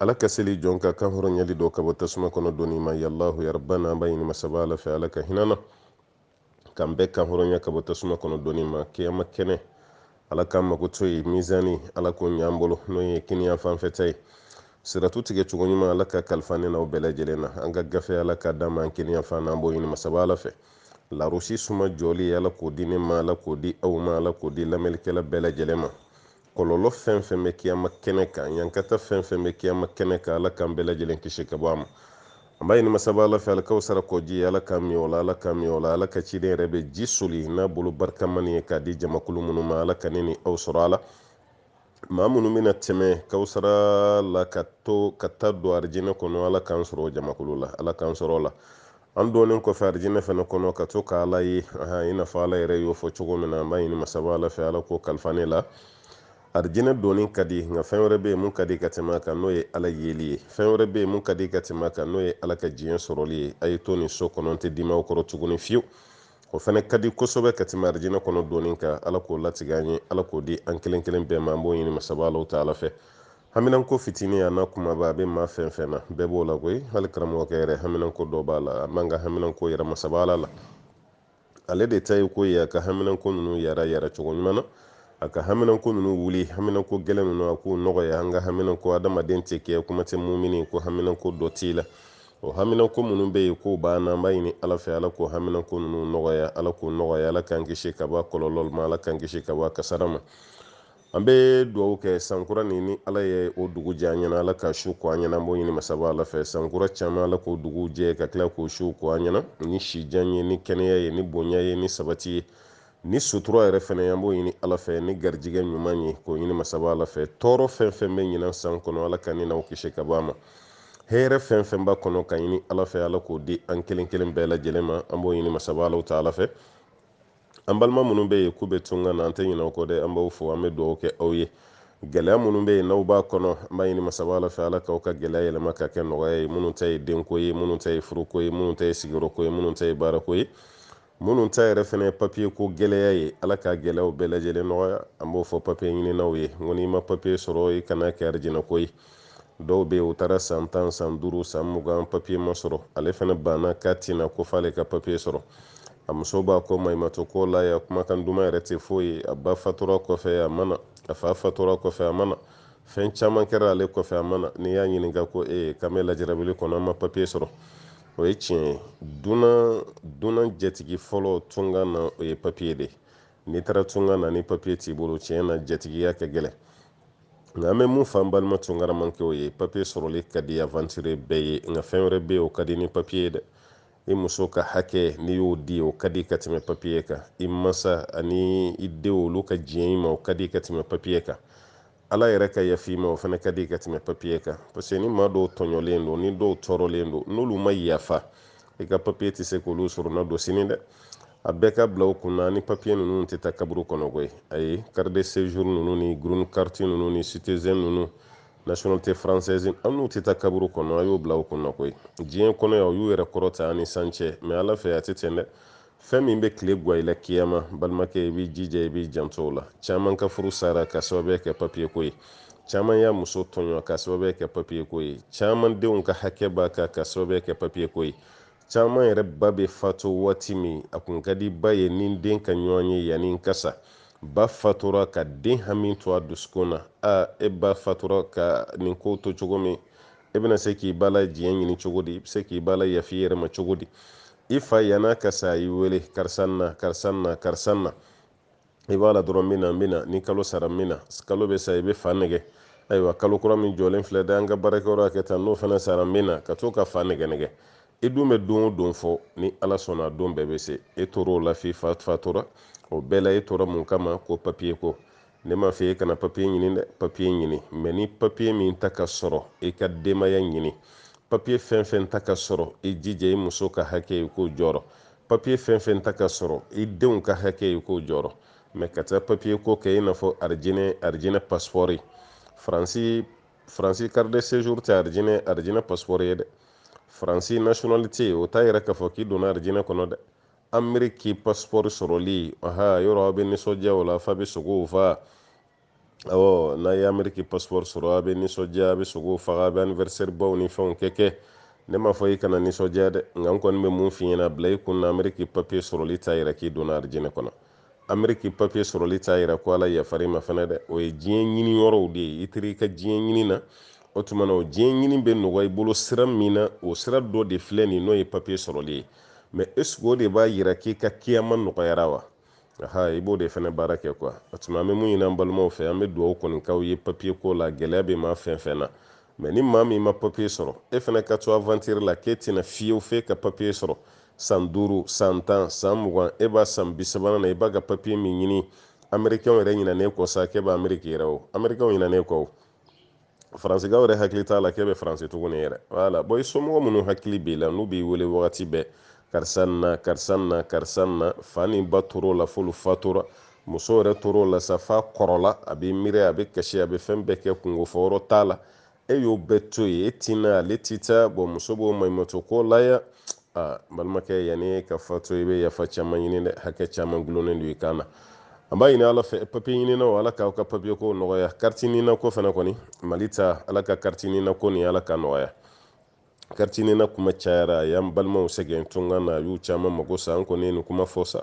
ala ka seli jɔn ka kan hɔrɔnyali dɔ ka bɔ tasuma kɔnɔ donni ma ya alahu ya rabana an b'a ɲini masaba ala fɛ ala ka hinɛ an na k'an bɛɛ kan hɔrɔnya ka bɔ tasuma kɔnɔ donni ma kiyama kɛnɛ ala k'an mago to ye mizani ala k'o ɲ'an bolo n'o ye kininyanfan fɛ ta ye siratu tigɛ cogo ɲuman ala ka kalifa ne n'aw bɛɛ lajɛlen na an ka gafe ala ka d'an ma an kininyanfan na an b'o ɲini masaba ala fɛ larosi suma jɔli ala k'o di ne ma ala k'o di aw ma ala k'o di lamɛnlikɛla bɛɛ lajɛlen ma kɔlɔlɔ fɛn fɛn bɛ kiyama kɛnɛ kan ɲankata fɛn fɛn bɛ kiyama kɛnɛ kan ala k'an bɛɛ lajɛlen kisi ka bɔ a ma an b'a ɲini masaba ala fɛ alikawusara kɔji ala k'an min o la ala k'an min o la ala ka ciden yɛrɛ bɛ ji soli n'a bolo barikama nin ye k'a di jamakulu minnu ma ala ka ne ni aw sɔrɔ a la maa minnu bɛna tɛmɛ kawusara la ka to ka taa don arijinɛ kɔnɔ ala k'an sɔrɔ jamakulu la ala k'an sɔrɔ a la an donnen kɔfɛ arijinɛ fana kɔnɔ ka to ka ala ye i n'a fɔ ala yɛrɛ y'o fɔ cogo min na an b'a ɲini masaba ala fɛ ala k'o kalifa ne la arijinɛ donni ka di nka fɛn wɛrɛ bɛ yen min ka di ka tɛmɛ o kan n'o ye ala yeli ye fɛn wɛrɛ bɛ yen min ka di ka tɛmɛ o kan n'o ye ala ka diɲɛ sɔrɔli ye a ye to nin so kɔnɔ n tɛ dimi aw kɔrɔ tuguni fewu o fana ka di kosɛbɛ ka tɛmɛ arijinɛ kɔnɔ donni kan ala k'o latigɛ an ye ala k'o di an kelen kelen bɛɛ ma an b'o ɲini masaba alahu taala fɛ haminanko fitinin a n'a kunbaba a bɛ maa fɛn fɛn na bɛɛ b'o la koyi hali karamɔgɔkɛ yɛrɛ haminanko dɔ b'a la an b'an ka haminanko yira masaba ala la ale de ta ye ko ye a ka haminanko ninnu yara yara cogo ɲuman na a ka haminanko ninnu wuli haminanko gɛlɛn ninnu a k'u nɔgɔya an ka haminanko adamaden tɛ kɛ kuma tɛ mumini ko haminanko dɔ t'i la o haminanko minnu bɛ yen k'o b'an na an b'a ɲini ala fɛ ala k'o haminanko ninnu nɔgɔya ala k'o nɔgɔya ala k'an kisi ka bɔ a kɔlɔlɔ ma ala k'an kisi ka bɔ a kasara ma an bɛ dugawu kɛ sankura nin ni ala ye o dugu jɛ an ɲɛna ala k'a su ko an ɲɛna an b'o ɲini masaba ala fɛ sankura caman ala k'o dugu jɛ ka tila k'o su ko an ɲɛna ni sijan ye ni kɛnɛya ye ni bonya ye ni sabati ye ni sutura yɛrɛ fana an b'o ɲini ala fɛ ni garijɛgɛ ɲuman ye k'o ɲini masaba ala fɛ tɔɔrɔ fɛn fɛn bɛ ɲinan san kɔnɔ ala ka ne n'aw kisi ka bɔ a ma hɛrɛ fɛn fɛn b'a kɔnɔ k'a ɲini ala fɛ ala k'o di an kelen kelen bɛɛ lajɛlen ma an b'o ɲini masaba alahu taala fɛ an balima minnu bɛ yen k'u bɛ tunga na an tɛ ɲinɛ aw kɔ dɛ an b'aw fo an bɛ dugawu kɛ aw ye gɛlɛya minnu bɛ yen n'aw b'a kɔnɔ an b'a ɲini masaba ala fɛ ala k'aw ka gɛlɛya yɛlɛma ka kɛ nɔgɔya ye minnu ta ye denko ye minnu ta ye furuko ye minnu ta ye sigiyɔrɔko ye minnu ta ye baarako ye minnu ta yɛrɛ fana ye papiye ko gɛlɛya ye ala ka gɛlɛyaw bɛɛ lajɛlen nɔgɔya an b'o fɔ papiye ɲininaw ye n ko n'i ma papiye sɔrɔ i kan'a kɛ arijinɛko ye dɔw bɛ yen u taara san tan san duuru san mugan papiye ma sɔrɔ ale fana banna k'a tɛ na ko f'ale ka papiye sɔrɔ a muso b'a kɔ maɲumatɔko la yan kumakan duman yɛrɛ tɛ foyi ye a ba fatura kɔfɛ a ma na a fa fatura kɔfɛ a ma na fɛn caman kɛra ale kɔfɛ a ma na n'i y'a ɲininka ko e ye k'an bɛ lajɛrabili kɔnɔ an ma papiye sɔrɔ o ye tiɲɛ ye dunan dunan jatigi fɔlɔ tunga na o ye papiye de ye n'i taara tunga na ni papiye t'i bolo tiɲɛ na jatigiya ka gɛlɛn nka an bɛ mun fɔ an balima tunkaramankɛw ye papiye sɔrɔli ka di avantire bɛɛ ye nka fɛn wɛrɛ bɛ yen o ka di ni papiye ye dɛ i muso ka hakɛ n'i y'o di o ka di ka tɛmɛ papiye kan i masa ani i denw olu ka diɲɛ i ma o ka di ka tɛmɛ papiye kan ala yɛrɛ ka yaf'i ma o fana ka di ka tɛmɛ papiye kan parce que ni maa dɔw tɔɲɔlen don ni dɔw tɔɔrɔlen don n'olu ma yafa i ka papiye tɛ se k'olu sɔrɔ na don sini dɛ a bɛɛ k'a bila aw kunna ni papiye ninnu tɛ taa kaburu kɔnɔ koyi ayi carte de séjour ninnu ni green carte ninnu ni citizen ninnu nationalité française an n'u tɛ taa kaburu kɔnɔ a y'o bila aw kunna koyi diɲɛ kɔnɔ yan u y'u yɛrɛ kɔrɔta ani san cɛ mɛ ala fɛ a tɛ ten dɛ fɛn min bɛ tile gwan i la kiyama balimakɛ i b'i jija i b'i janto o la caman ka furu sara ka sababuya kɛ papiye ko ye caman y'a muso tɔɲɔ ka sababuya kɛ papiye ko ye caman denw ka hakɛ b'a kan ka sababuya kɛ papiye ko ye caman yɛrɛ ba bɛ fatu waati min a kun ka di ba ye ni den ka ɲɔgɔn ye yanni n ka sa ba fatura ka den hami to a dusukun na a e ba fatura ka nin ko to cogo min e bɛna se k'i ba la diɲɛ ɲini cogo di i bɛ se k'i ba layaf'i yɛrɛ ma cogo di i fa yan'a ka sa a y'i wele karisa na karisa na karisa na i b'a la dɔrɔn n bɛ na n bɛ na ni kalo sara n bɛ na kalo bɛ sa i bɛ fa nɛgɛn ayiwa kalo kura min jɔlen filɛ dɛ an ka baarakɛyɔrɔ kɛ tan n'o fana sara n bɛ na ka to ka fa nɛgɛn nɛgɛn i dun bɛ don o don fɔ ni ala sɔnna don bɛɛ bɛ se e tor'o la f'i fa fatura o bɛɛ la e tora mun kama ko papiye ko ne m'a fɔ e kana papiye ɲini dɛ papiye ɲini mɛ ni papiye min ta ka sɔrɔ i ka denbaya ɲini papiye fɛn fɛn ta ka sɔrɔ i jija i muso ka hakɛ i k'o jɔrɔ papiye fɛn fɛn ta ka sɔrɔ i denw ka hakɛ i k'o jɔrɔ mɛ ka taa papiye ko kɛ i n'a fɔ arijinɛ arijinɛ pasipɔri faransi carte de séjour tɛ arijinɛ arijinɛ pasipɔri ye dɛ faransi nationalité o t'a yira k'a fɔ k'i donna arijinɛ kɔnɔ dɛ ameriki pasipɔri sɔrɔli aha yɔrɔ aw bɛ nisɔndiya o la f'a bɛ sogow fa awɔ n'a ye ameriki pasipɔri sɔrɔ a bɛ nisɔndiya a bɛ sogo faga a bɛ anniversaire baw ni fɛnw kɛ kɛ ne m'a fɔ i kana nisɔndiya dɛ nka n kɔni bɛ mun f'i ɲɛna a bila i kun na ameriki papiye sɔrɔli t'a yira k'i donna arijinɛ kɔnɔ ameriki papiye sɔrɔli t'a yira ko ala yafar'i ma fɛnɛ dɛ o ye diɲɛ ɲini yɔrɔw de ye i teri i ka diɲɛ ɲini na o tuma na o diɲɛ ɲini bɛ nɔgɔya i bolo sira min na o sira dɔ de filɛ nin n'o ye papiye sɔrɔli ye mɛ est-ce que o de b'a yira k'i ka kiyama nɔgɔyara wa aha i b'o de fɛnɛ baara kɛ kuwa o tuma an bɛ mun ɲini an balimaw fɛ an bɛ dugawu kɔni k'aw ye papiye ko la gɛlɛya bɛ maa fɛn fɛn na mɛ ni maa min ma papiye sɔrɔ e fɛnɛ ka to avantiri la k'e tɛ na fiyewu f'e ka papiye sɔrɔ san duuru san tan san mugan e b'a san bisabanan na i b'a ka papiye min ɲini amerikɛnw yɛrɛ ɲinan'e kɔ sa k'e bɛ ameriki yɛrɛ o amerikɛnw ɲinan'e kɔ o faransikaw yɛrɛ hakili t'a la k'e bɛ faransi tuguni yɛrɛ voilà bon i somɔgɔ minnu hakili b'i la n'u b'i wele wagati bɛɛ karisa na karisa na karisa na fa ni ba tor'o la f'olu fatura muso yɛrɛ tor'o la sa f'a kɔrɔla a b'i miiri a bɛ kasi a bɛ fɛn bɛɛ kɛ kunko fɔ yɔrɔ t'a la e y'o bɛɛ to yen e ti na ale ti taa bon muso b'o maɲumatɔ ko la ya aa balimakɛ yann'i ka fatu i bɛ yafa caman ɲini dɛ hakɛ caman dulonnen don i kan na an b'a ɲini ala fɛ papiye ɲininaw ala k'aw ka papiye ko nɔgɔya kariti nina ko fana kɔni mali ta ala ka kariti nina ko nin ala k'a nɔgɔya kariti nina kuma cayara a y'an balimaw sɛgɛn tunga na a y'u caman mago sa an kɔni ye nin kuma fɔ sa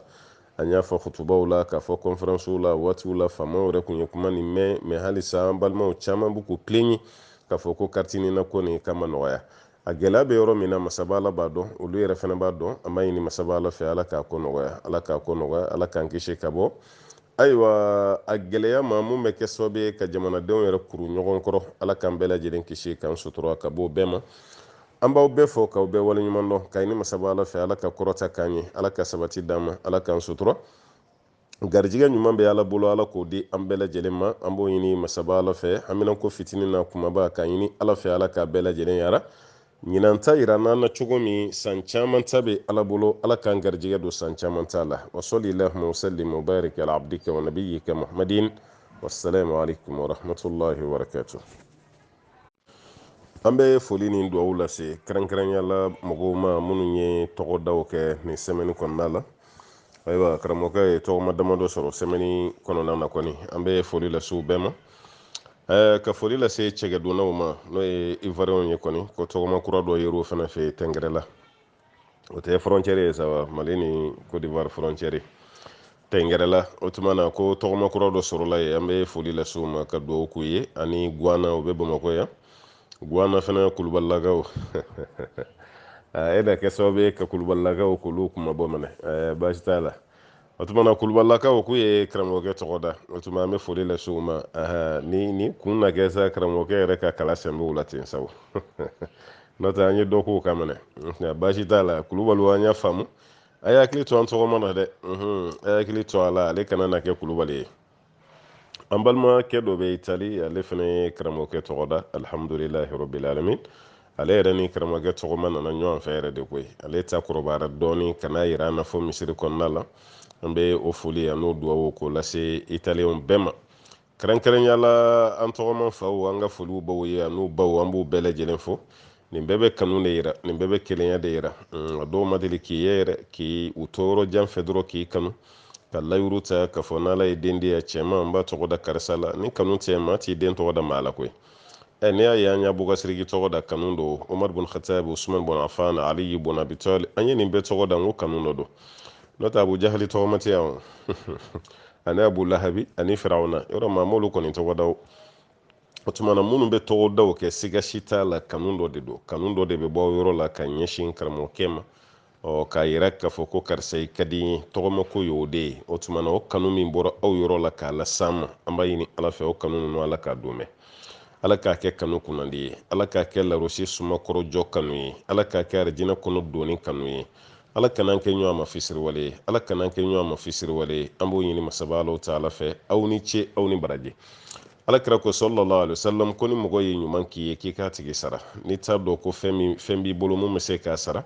an y'a fɔ kutubaw la k'a fɔ kɔnferansiw la waatiw la faamaw yɛrɛ kun ye kuma nin mɛn mais halisa an balimaw caman b'u k'u plaignent k'a fɔ ko kariti nina ko nin k'a ma nɔgɔya a gɛlɛya bɛ yɔrɔ min na masaba ala b'a dɔn olu yɛrɛ fana b'a dɔn an b'a ɲini masaba ala fɛ ala k'a ko nɔgɔya ala k'a ko nɔgɔya ala k'an kisi ka bɔ ayiwa a gɛlɛya ma mun bɛ kɛ sababu ye ka jamanadenw yɛrɛ kuru ɲɔgɔn kɔrɔ ala k'an bɛɛ lajɛlen kisi k'an sutura ka bɔ o bɛɛ ma an b'aw bɛɛ fo k'aw bɛɛ waleɲuman dɔn k'a ɲini masaba ala fɛ ala ka kɔrɔta k'an ye ala ka sabati d'an ma ala k'an sutura garijigɛ ɲuman bɛ ala bolo ala k'o di an bɛɛ lajɛlen ma an b'o ɲini masaba ala fɛ haminanko fitinin n'a kumaba k'a ɲini ala fɛ ala k'a bɛɛ lajɛlen yara ɲinan ta yira n'an na cogo min san caman ta bɛ ala bolo ala k'an garijigɛ don san caman ta la wasalli allahumma wasallim wabarik ala abdika wa nabiyika muhammadin wassalamu alaikum warahmatullahi wabarakatuh an bɛ foli ni dugawu lase kɛrɛnkɛrɛnya la mɔgɔw ma minnu ye tɔgɔdaw kɛ nin sɛmɛni kɔnɔna la ayiwa karamɔgɔkɛ ye tɔgɔma damadɔ sɔrɔ sɛmɛni kɔnɔna na kɔni an bɛ foli lase u bɛɛ ma ka foli lase cɛkɛdunnaw ma n'o ye ivoirienw ye kɔni ko tɔgɔma kura dɔ yer'o fana fɛ yen tɛngɛrɛla o tɛ frontière ye sa wa mali ni côte d'ivoire frontière tɛngɛrɛla o tuma na ko tɔgɔma kura dɔ sɔrɔla yen an bɛ foli lase u ma ka dugawu k'u ye ani guana o bɛ bamakɔ yan guana fana kulubalilakaw e na kɛ sababu ye ka kulubalilakaw k'olu kuma bɔ minɛ baasi t'a la o tuma na kulubalilakaw k'u ye karamɔgɔkɛ tɔgɔ da o tuma an bɛ foli lase u ma ni ni kun na kɛ sa karamɔgɔkɛ yɛrɛ ka kala sɛnbɛw la ten sabu n'o tɛ an ye dɔ k'o kan minɛ baasi t'a la kulubaliw an y'a faamu a y'a hakili to an tɔgɔma na dɛ a y'a hakili to a la ale kana na kɛ kulubali ye an balimakɛ dɔ bɛ itali ale fana ye karamɔgɔkɛ tɔgɔ da alihamudulilahi rabbil alamin ale yɛrɛ ni karamɔgɔkɛ tɔgɔma nana ɲɔgɔn fɛ yɛrɛ de koyi ale ta kɔrɔbayara dɔɔni ka n'a yira an na fɔ misiri kɔnɔna la an bɛ o foli an'o duwawu k'o lase italiyɛnw bɛɛ ma kɛrɛnkɛrɛnya la an tɔgɔma faw an ka foli b'aw ye an'u baw an b'u bɛɛ lajɛlen fo nin bɛɛ bɛ kanu de yira nin bɛɛ bɛ kelenya de yira mm, a dɔw ma deli k'i ye yɛrɛ k'i u to yɔrɔ jan fɛ dɔrɔn k'i kanu ka layiru ta k'a fɔ n'ala ye den di yan cɛman n b'a tɔgɔ da karisa la ni kanu tɛ maa t'i den tɔgɔ da maa la koyi ɛ n'i y'a ye an y'abubakari siriki tɔgɔ da kanu don omar bun khatab usman bun afan aliyi bun abi talib an ye nin bɛɛ tɔgɔ da n ko kanu dɔ don n'o tɛ abu jahali tɔgɔma tɛ yan ani abu lahabi ani firawuna yɔrɔ maa m'olu kɔni tɔgɔ da o o tumana minnu bɛ tɔgɔdaw kɛ siga si t'a la kanu dɔ de don kanu dɔ de bɛ bɔ yɔrɔ la ka ɲɛsin karamɔgɔkɛ ma ɔ k'a yira k'a fɔ ko karisa i ka di n ye tɔgɔmako ye o de ye o tumana o kanu min bɔra aw yɔrɔ la k'a las'an ma an b'a ɲini ala fɛ o kanu ninnu ala k'a don mɛn ala k'a kɛ kanu kunnandi ye ala k'a kɛ larosi suma kɔrɔ jɔ kanu ye ala k'a kɛ arijinɛ kɔnɔ donni kanu ye ala kan'an kɛ ɲɔgɔn ma fisiriwale ye ala kan'an kɛ ɲɔgɔn ma fisiriwale ye an b'o ɲini masaba alahu taala fɛ aw ni ce aw ni baraji alakira ko sallallahu alaihi wasallam ko ni mɔgɔ ye ɲuman k'i ye k'i k'a tigi sara n'i t'a dɔn ko fɛn b'i bolo min bɛ se k'a sara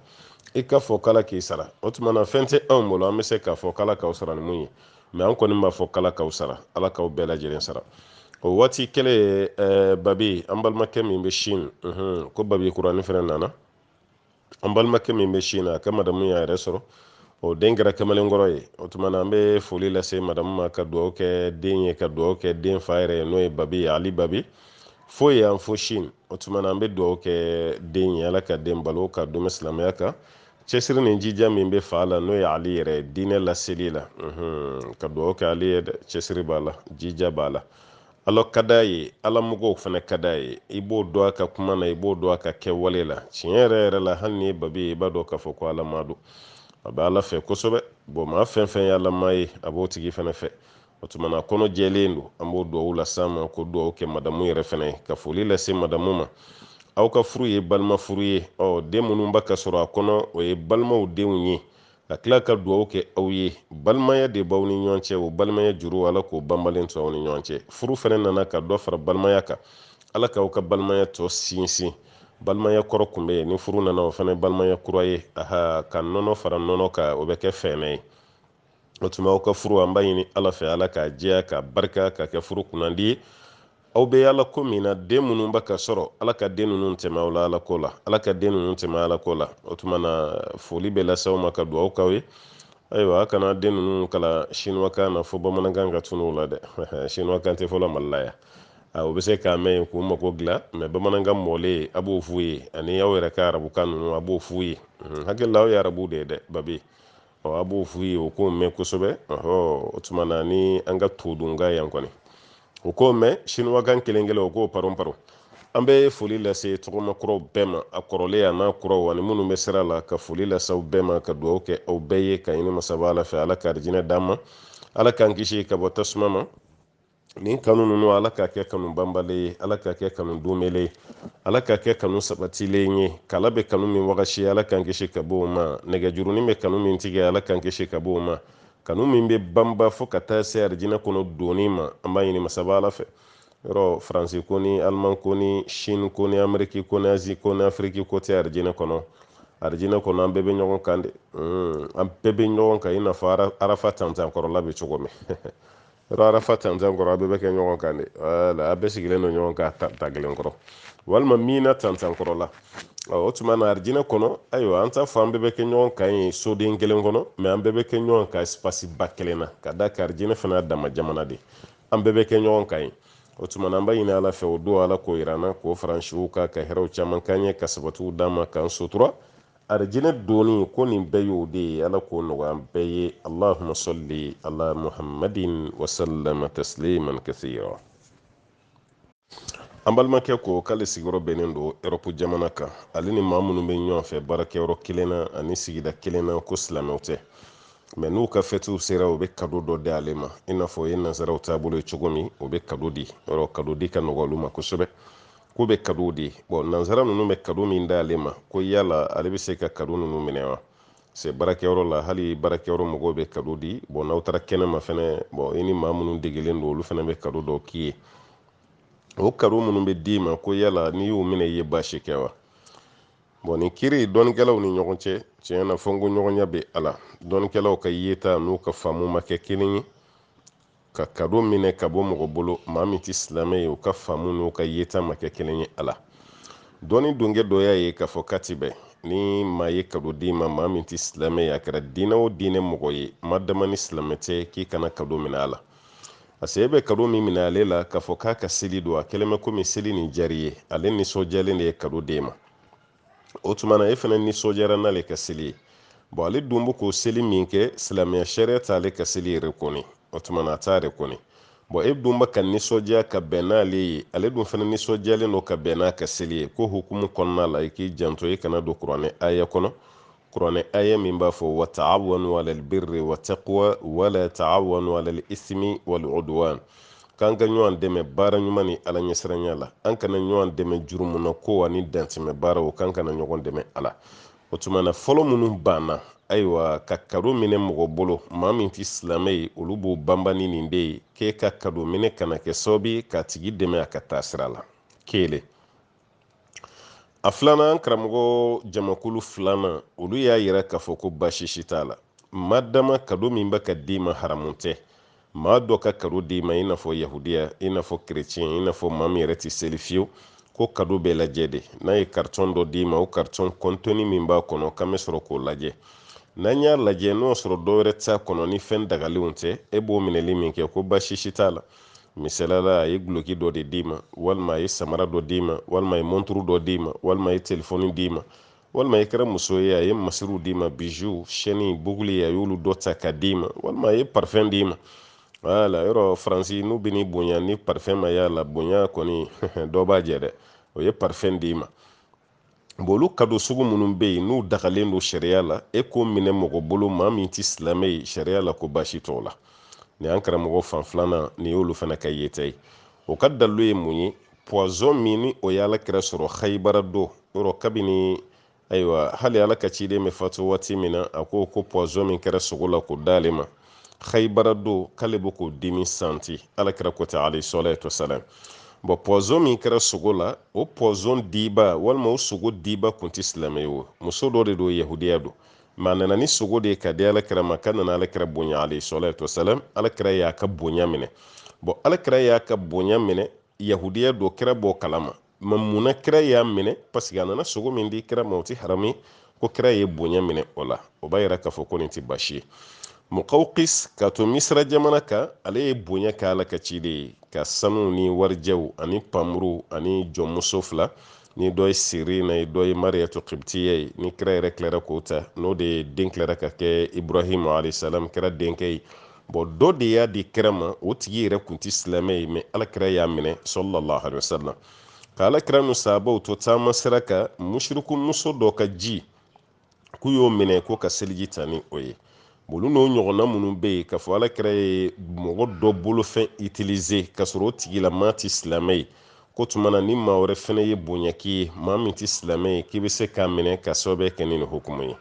i k'a fɔ k'ala k'i sara o tuma na fɛn tɛ anw bolo an bɛ se k'a fɔ k'ala k'aw sara ni mun ye mɛ an kɔni b'a fɔ k'ala k'aw sara ala k'aw bɛɛ lajɛlen sara o waati kelen babi an balimakɛ min bɛ sin ko babi kurani fɛnɛ nana an balimakɛ min bɛ sin na a ka madamu y'a yɛrɛ sɔrɔ o den kɛra kamalenkɔrɔ ye o tuma na an bɛ foli lase madamu ma ka dugawu kɛ den ye ka dugawu kɛ den fa yɛrɛ ye n'o ye babi ye ali babi fo yan fo sin o tuma na an bɛ dugawu kɛ den ye ala ka den balo k'a dɛmɛ silamɛya kan cɛsiri ni jija min bɛ fa la n'o ye ale yɛrɛ ye diinɛ laseli la ka dugawu kɛ ale ye cɛsiri b'a la jija b'a la Ala ka d'a ye ala mɔgɔw fana ka d'a ye i b'o dɔn a ka kuma na i b'o dɔn a ka kɛwale la tiɲɛ yɛrɛ yɛrɛ la hali n'i ye babi ye i b'a dɔn k'a fɔ ko alamaa don a bɛ ala fɛ kosɛbɛ bɔn maa fɛn fɛn ye alamaa ye a b'o tigi fana fɛ o tumana kɔnɔ jɛlen don an b'o duwawu las'a ma ka duwawu kɛ madamu yɛrɛ fana ye ka foli lase madamu ma aw ka furu ye balima furu ye ɔ den minnu b'a ka sɔrɔ a kɔnɔ o ye balimaw denw ye ka tila ka dugawu kɛ aw ye balimaya de b'aw ni ɲɔgɔn cɛ o balimaya juru ala k'o banbalen to aw ni ɲɔgɔn cɛ furu fana nana ka dɔ fara balimaya kan ala k'aw ka balimaya tɔ sinsin balimaya kɔrɔ kun bɛ yen ni furu nana o fana balimaya kura ye aha ka nɔnɔ fara nɔnɔ kan o bɛ kɛ fɛnɛ ye o tuma aw ka furu an b'a ɲini ala fɛ ala k'a jɛya k'a barika k'a kɛ furu kunnandi ye aw bɛ ala ko min na den minnu bɛ ka sɔrɔ ala ka den ninnu tɛmɛ aw la ala ko la ala ka den ninnu tɛmɛ ala ko la o tuma na foli bɛ lase aw ma ka dugawu k'aw ye ayiwa a kana den ninnu kalan sinuwakan na fo bamanankan ka tunun u la dɛ sinuwakan tɛ fɔlɔ mali la yan u bɛ se k'a mɛn yen k'u mago dilan mɛ bamanankan mɔlen a b'o f'u ye ani aw yɛrɛ ka arabukan ninnu a b'o f'u ye hakili la aw ye arabu de ye dɛ babi ɔ a b'o f'u ye o k'o mɛn kosɛbɛ ɔhɔ o tuma na ni an ka todunkan yan kɔni o k'o mɛn sinuwakan kelen kelen o k'o paron paron an bɛ foli lase tɔgɔma kuraw bɛɛ ma a kɔrɔlen a n'a kuraw ani minnu bɛ sira la ka foli lase aw bɛɛ ma ka dugawu kɛ aw bɛɛ ye ka ɲini masaba ala fɛ ala ka arijinɛ d'an ma ala k'an kisi ka bɔ tasuma ma nin kanu ninnu ala k'a kɛ kanu banbalen ye ala k'a kɛ kanu donbele ye ala k'a kɛ kanu sabatilen ye kala bɛ kanu min wagasi ala k'an kisi ka bɔ o ma nɛgɛjurunin bɛ kanu min tigɛ ala k'an kisi ka bɔ o ma kanu min bɛ banba fo ka taa se arijinɛ kɔnɔ donni ma an b'a ɲini masaba ala fɛ yɔrɔ faransi ko ni aliman ko ni sini ko ni ameriki ko ni azi ko ni afiriki ko tɛ arijinɛ kɔnɔ arijinɛ kɔnɔ an bɛɛ bɛ ɲɔgɔn kan de hmm, an bɛɛ bɛ ɲɔgɔn kan i n'a fɔ arafa tantankɔrɔla bɛ cogo min yɔrɔ arafa tantan kɔrɔ a bɛɛ bɛ kɛ ɲɔgɔn kan de wala a bɛɛ sigilen don ɲɔgɔn kan ta kelen kɔrɔ walima mina tantan kɔrɔ la o tuma na arijinɛ kɔnɔ ayiwa an t'a fɔ an bɛɛ bɛ kɛ ɲɔgɔn kan yen soden kelen kɔnɔ mɛ an bɛɛ bɛ kɛ ɲɔgɔn kan ɛsipasi ba kelen na ka d'a kan arijinɛ fana dama jamana de an bɛɛ bɛ kɛ ɲɔgɔn kan yen o tuma na an b'a ɲini ala fɛ o don ala k'o yir'an na k'o furancɛ ka ka hɛrɛw caman k'an ye ka sabatiw d'an ma k'an sutura arijinɛ donni ko nin bɛɛ y'o de ye ala k'o nɔgɔya an bɛɛ ye allahuma salli ala muhammadin wasallama tasliman kasira an balimakɛ ko k'ale sigiyɔrɔ bɛnnen don erɔpu jamana kan ale ni maa minnu bɛ ɲɔgɔn fɛ baarakɛyɔrɔ kelen na ani sigida kelen na ko silamɛw tɛ mɛ n'u ka fɛtiw sera u bɛ kado dɔ di ale ma i n'a fɔ o ye nansaraw taabolo ye cogo min u bɛ kado di yɔrɔ kado di ka nɔgɔ olu ma kosɛbɛ k'u bɛ kado di bɔn nansara ninnu bɛ kado min d'ale ma ko yala ale bɛ se ka kado ninnu minɛ wa se baarakɛyɔrɔ la hali baarakɛyɔrɔ mɔgɔw bɛ kado di bɔn n'aw taara kɛnɛma fɛnɛ bɔn i ni maa minnu degelen don olu fɛnɛ bɛ kado dɔw k'i ye o kado minnu bɛ d'i ma ko yala n'i y'u minɛ i ye baasi kɛ wa bɔn nin kiri dɔnnikɛlaw ni ɲɔgɔn cɛ tiɲɛ na fɔkɔɲɔgɔnya bɛ a la dɔnnikɛlaw ka yeta n'u ka faamu ma kɛ kelen ye ka kado minɛ ka bɔ mɔgɔ bolo maa min tɛ silamɛ ye u ka faamu n'u ka yeta ma kɛ kelen ye a la dɔɔni dɔnki dɔ y'a ye k'a fɔ k'a tɛ bɛn ni maa ye kado d'i ma maa min tɛ silamɛ ye a kɛra diinɛ o diinɛ mɔgɔ ye ma dama ni silamɛ tɛ k'i kana kado minɛ a la pase e bɛ kado min minɛ ale la k'a fɔ k'a ka seli don a kɛlen bɛ komi seli nin diyar'i ye ale nisɔndiyalen de ye kado d'e ma o tuma na e fana nisɔndiyara n'ale ka seli ye bɔn ale dun bɛ k'o seli min kɛ silamɛya sariya t'ale ka seli rekɔni o tuma na a t'a rekɔni bɔn e dun bɛ ka nisɔndiya ka bɛn n'ale ye ale dun fana nisɔndiyalen don ka bɛn n'a ka seli ye k'o hukumu kɔnɔna la i k'i janto i kana don kuranɛ aya kɔnɔ kuranɛ aya min b'a fɔ wa taawanu alal birri wa taqwa wala taawanu alal ismi wal udwan k'an ka ɲɔgɔn dɛmɛ baara ɲuman ni ala ɲɛsiranya la an kana ɲɔgɔn dɛmɛ jurumu na ko ani dantɛmɛ baaraw k'an kana ɲɔgɔn dɛmɛ a la o tuma na fɔlɔ minnu banna ayiwa ka kado minɛ mɔgɔ bolo maa min tɛ silamɛ ye olu b'o banba ni nin de ye k'e ka kado minɛ kana kɛ sababu ye k'a tigi dɛmɛ a ka taa sira la kelen a filanan karamɔgɔ jamakulu filanan olu y'a yira k'a fɔ ko baasi si t'a la ma dama kado min bɛ ka d'i ma haramu tɛ maa dɔ ka kado d'i ma i n'a fɔ yahudiya i n'a fɔ kerecɛn i n'a fɔ maa min yɛrɛ tɛ seli fiyewu ko kado bɛ lajɛ de n'a ye karitɔn dɔ d'i ma o karitɔn kɔntɔni min b'a kɔnɔ k'an bɛ sɔrɔ k'o lajɛ n'an y'a lajɛ n'o sɔrɔ dɔwɛrɛ t'a kɔnɔ ni fɛn dagalenw tɛ e b'o minɛli min kɛ ko baasi si t'a la misalala a ye guloki dɔ de d'i ma walima a ye samara dɔ d'i ma walima a ye monturu dɔ d'i ma walima a ye telefɔni d'i ma walima i kɛra muso ye a ye masiriw d'i ma bijoux sɛni buguli a y'olu dɔ ta ka d'i ma walima a ye parfɛn d'i ma wala yɔrɔ faransi n'u bɛ n'i bonya ni parfɛn ma y'a la bonya kɔni dɔ b'a jɛ dɛ o ye parfɛn d'i ma bon olu kado sugu minnu bɛ yen n'u dagalen don sariya la e k'o minɛ mɔgɔ bolo maa min tɛ silamɛ ye sariya la ko baasi t'o la nin an karamɔgɔ fan filanan nin y'olu fana ka yeta ye o ka dalilu ye mun ye pɔzɔn min ni o ye ala kira sɔrɔ hayibara don yɔrɔ kabini ayiwa hali ala ka ciden bɛ fatu waati min na a ko ko pɔzɔn min kɛra sogo la k'o d'ale ma khaybara don k'ale bɛ k'o dimi santi alakira ko ten alayhi salatu wasalam bɔn pɔzɔn min kɛra sogo la o pɔzɔn diba walima o sogo diba kun tɛ silamɛ ye o muso dɔ de don yahudiya don ma nana ni sogo de ye ka di alakira ma k'a nana alakira bonya alayhi salatu wasalam alakira y'a ka bonya minɛ bɔn alakira y'a ka bonya minɛ yahudiya don kira b'o kalama ma mun na kira y'a minɛ paseke a nana sogo min di kira ma o ti haramu ye ko kira ye bonya minɛ o la o b'a yira k'a fɔ ko nin ti baasi ye mukawkis ka to misira jamana kan ale ye bonya kɛ ala ka ciden ye ka sanu ni warijɛw ani panmuru ani jɔnmuso fila ni dɔ ye sirina ye dɔ ye mariyatu kibitiya ye ni kira yɛrɛ tilara k'o ta n'o de ye den tilara ka kɛ ibrahim alayhisalam kira denkɛ ye bɔn dɔ de y'a di kira ma o tigi yɛrɛ kun tɛ silamɛ ye mɛ alakira y'a minɛ sallallahu alaihi wasallam ka alakira nu sahabaw to taama sira kan musiriku muso dɔ ka ji k'u y'o minɛ k'u ka seliji ta ni o ye olu n'o ɲɔgɔnna minnu bɛ yen k'a fɔ alakira ye mɔgɔ dɔ bolofɛn itilize k'a sɔrɔ o tigila maa tɛ silamɛ ye k'o tuma na ni maa wɛrɛ fana ye bonya k'i ye maa min tɛ silamɛ ye k'i bɛ se k'a minɛ ka sababu kɛ ni nin hukumu ye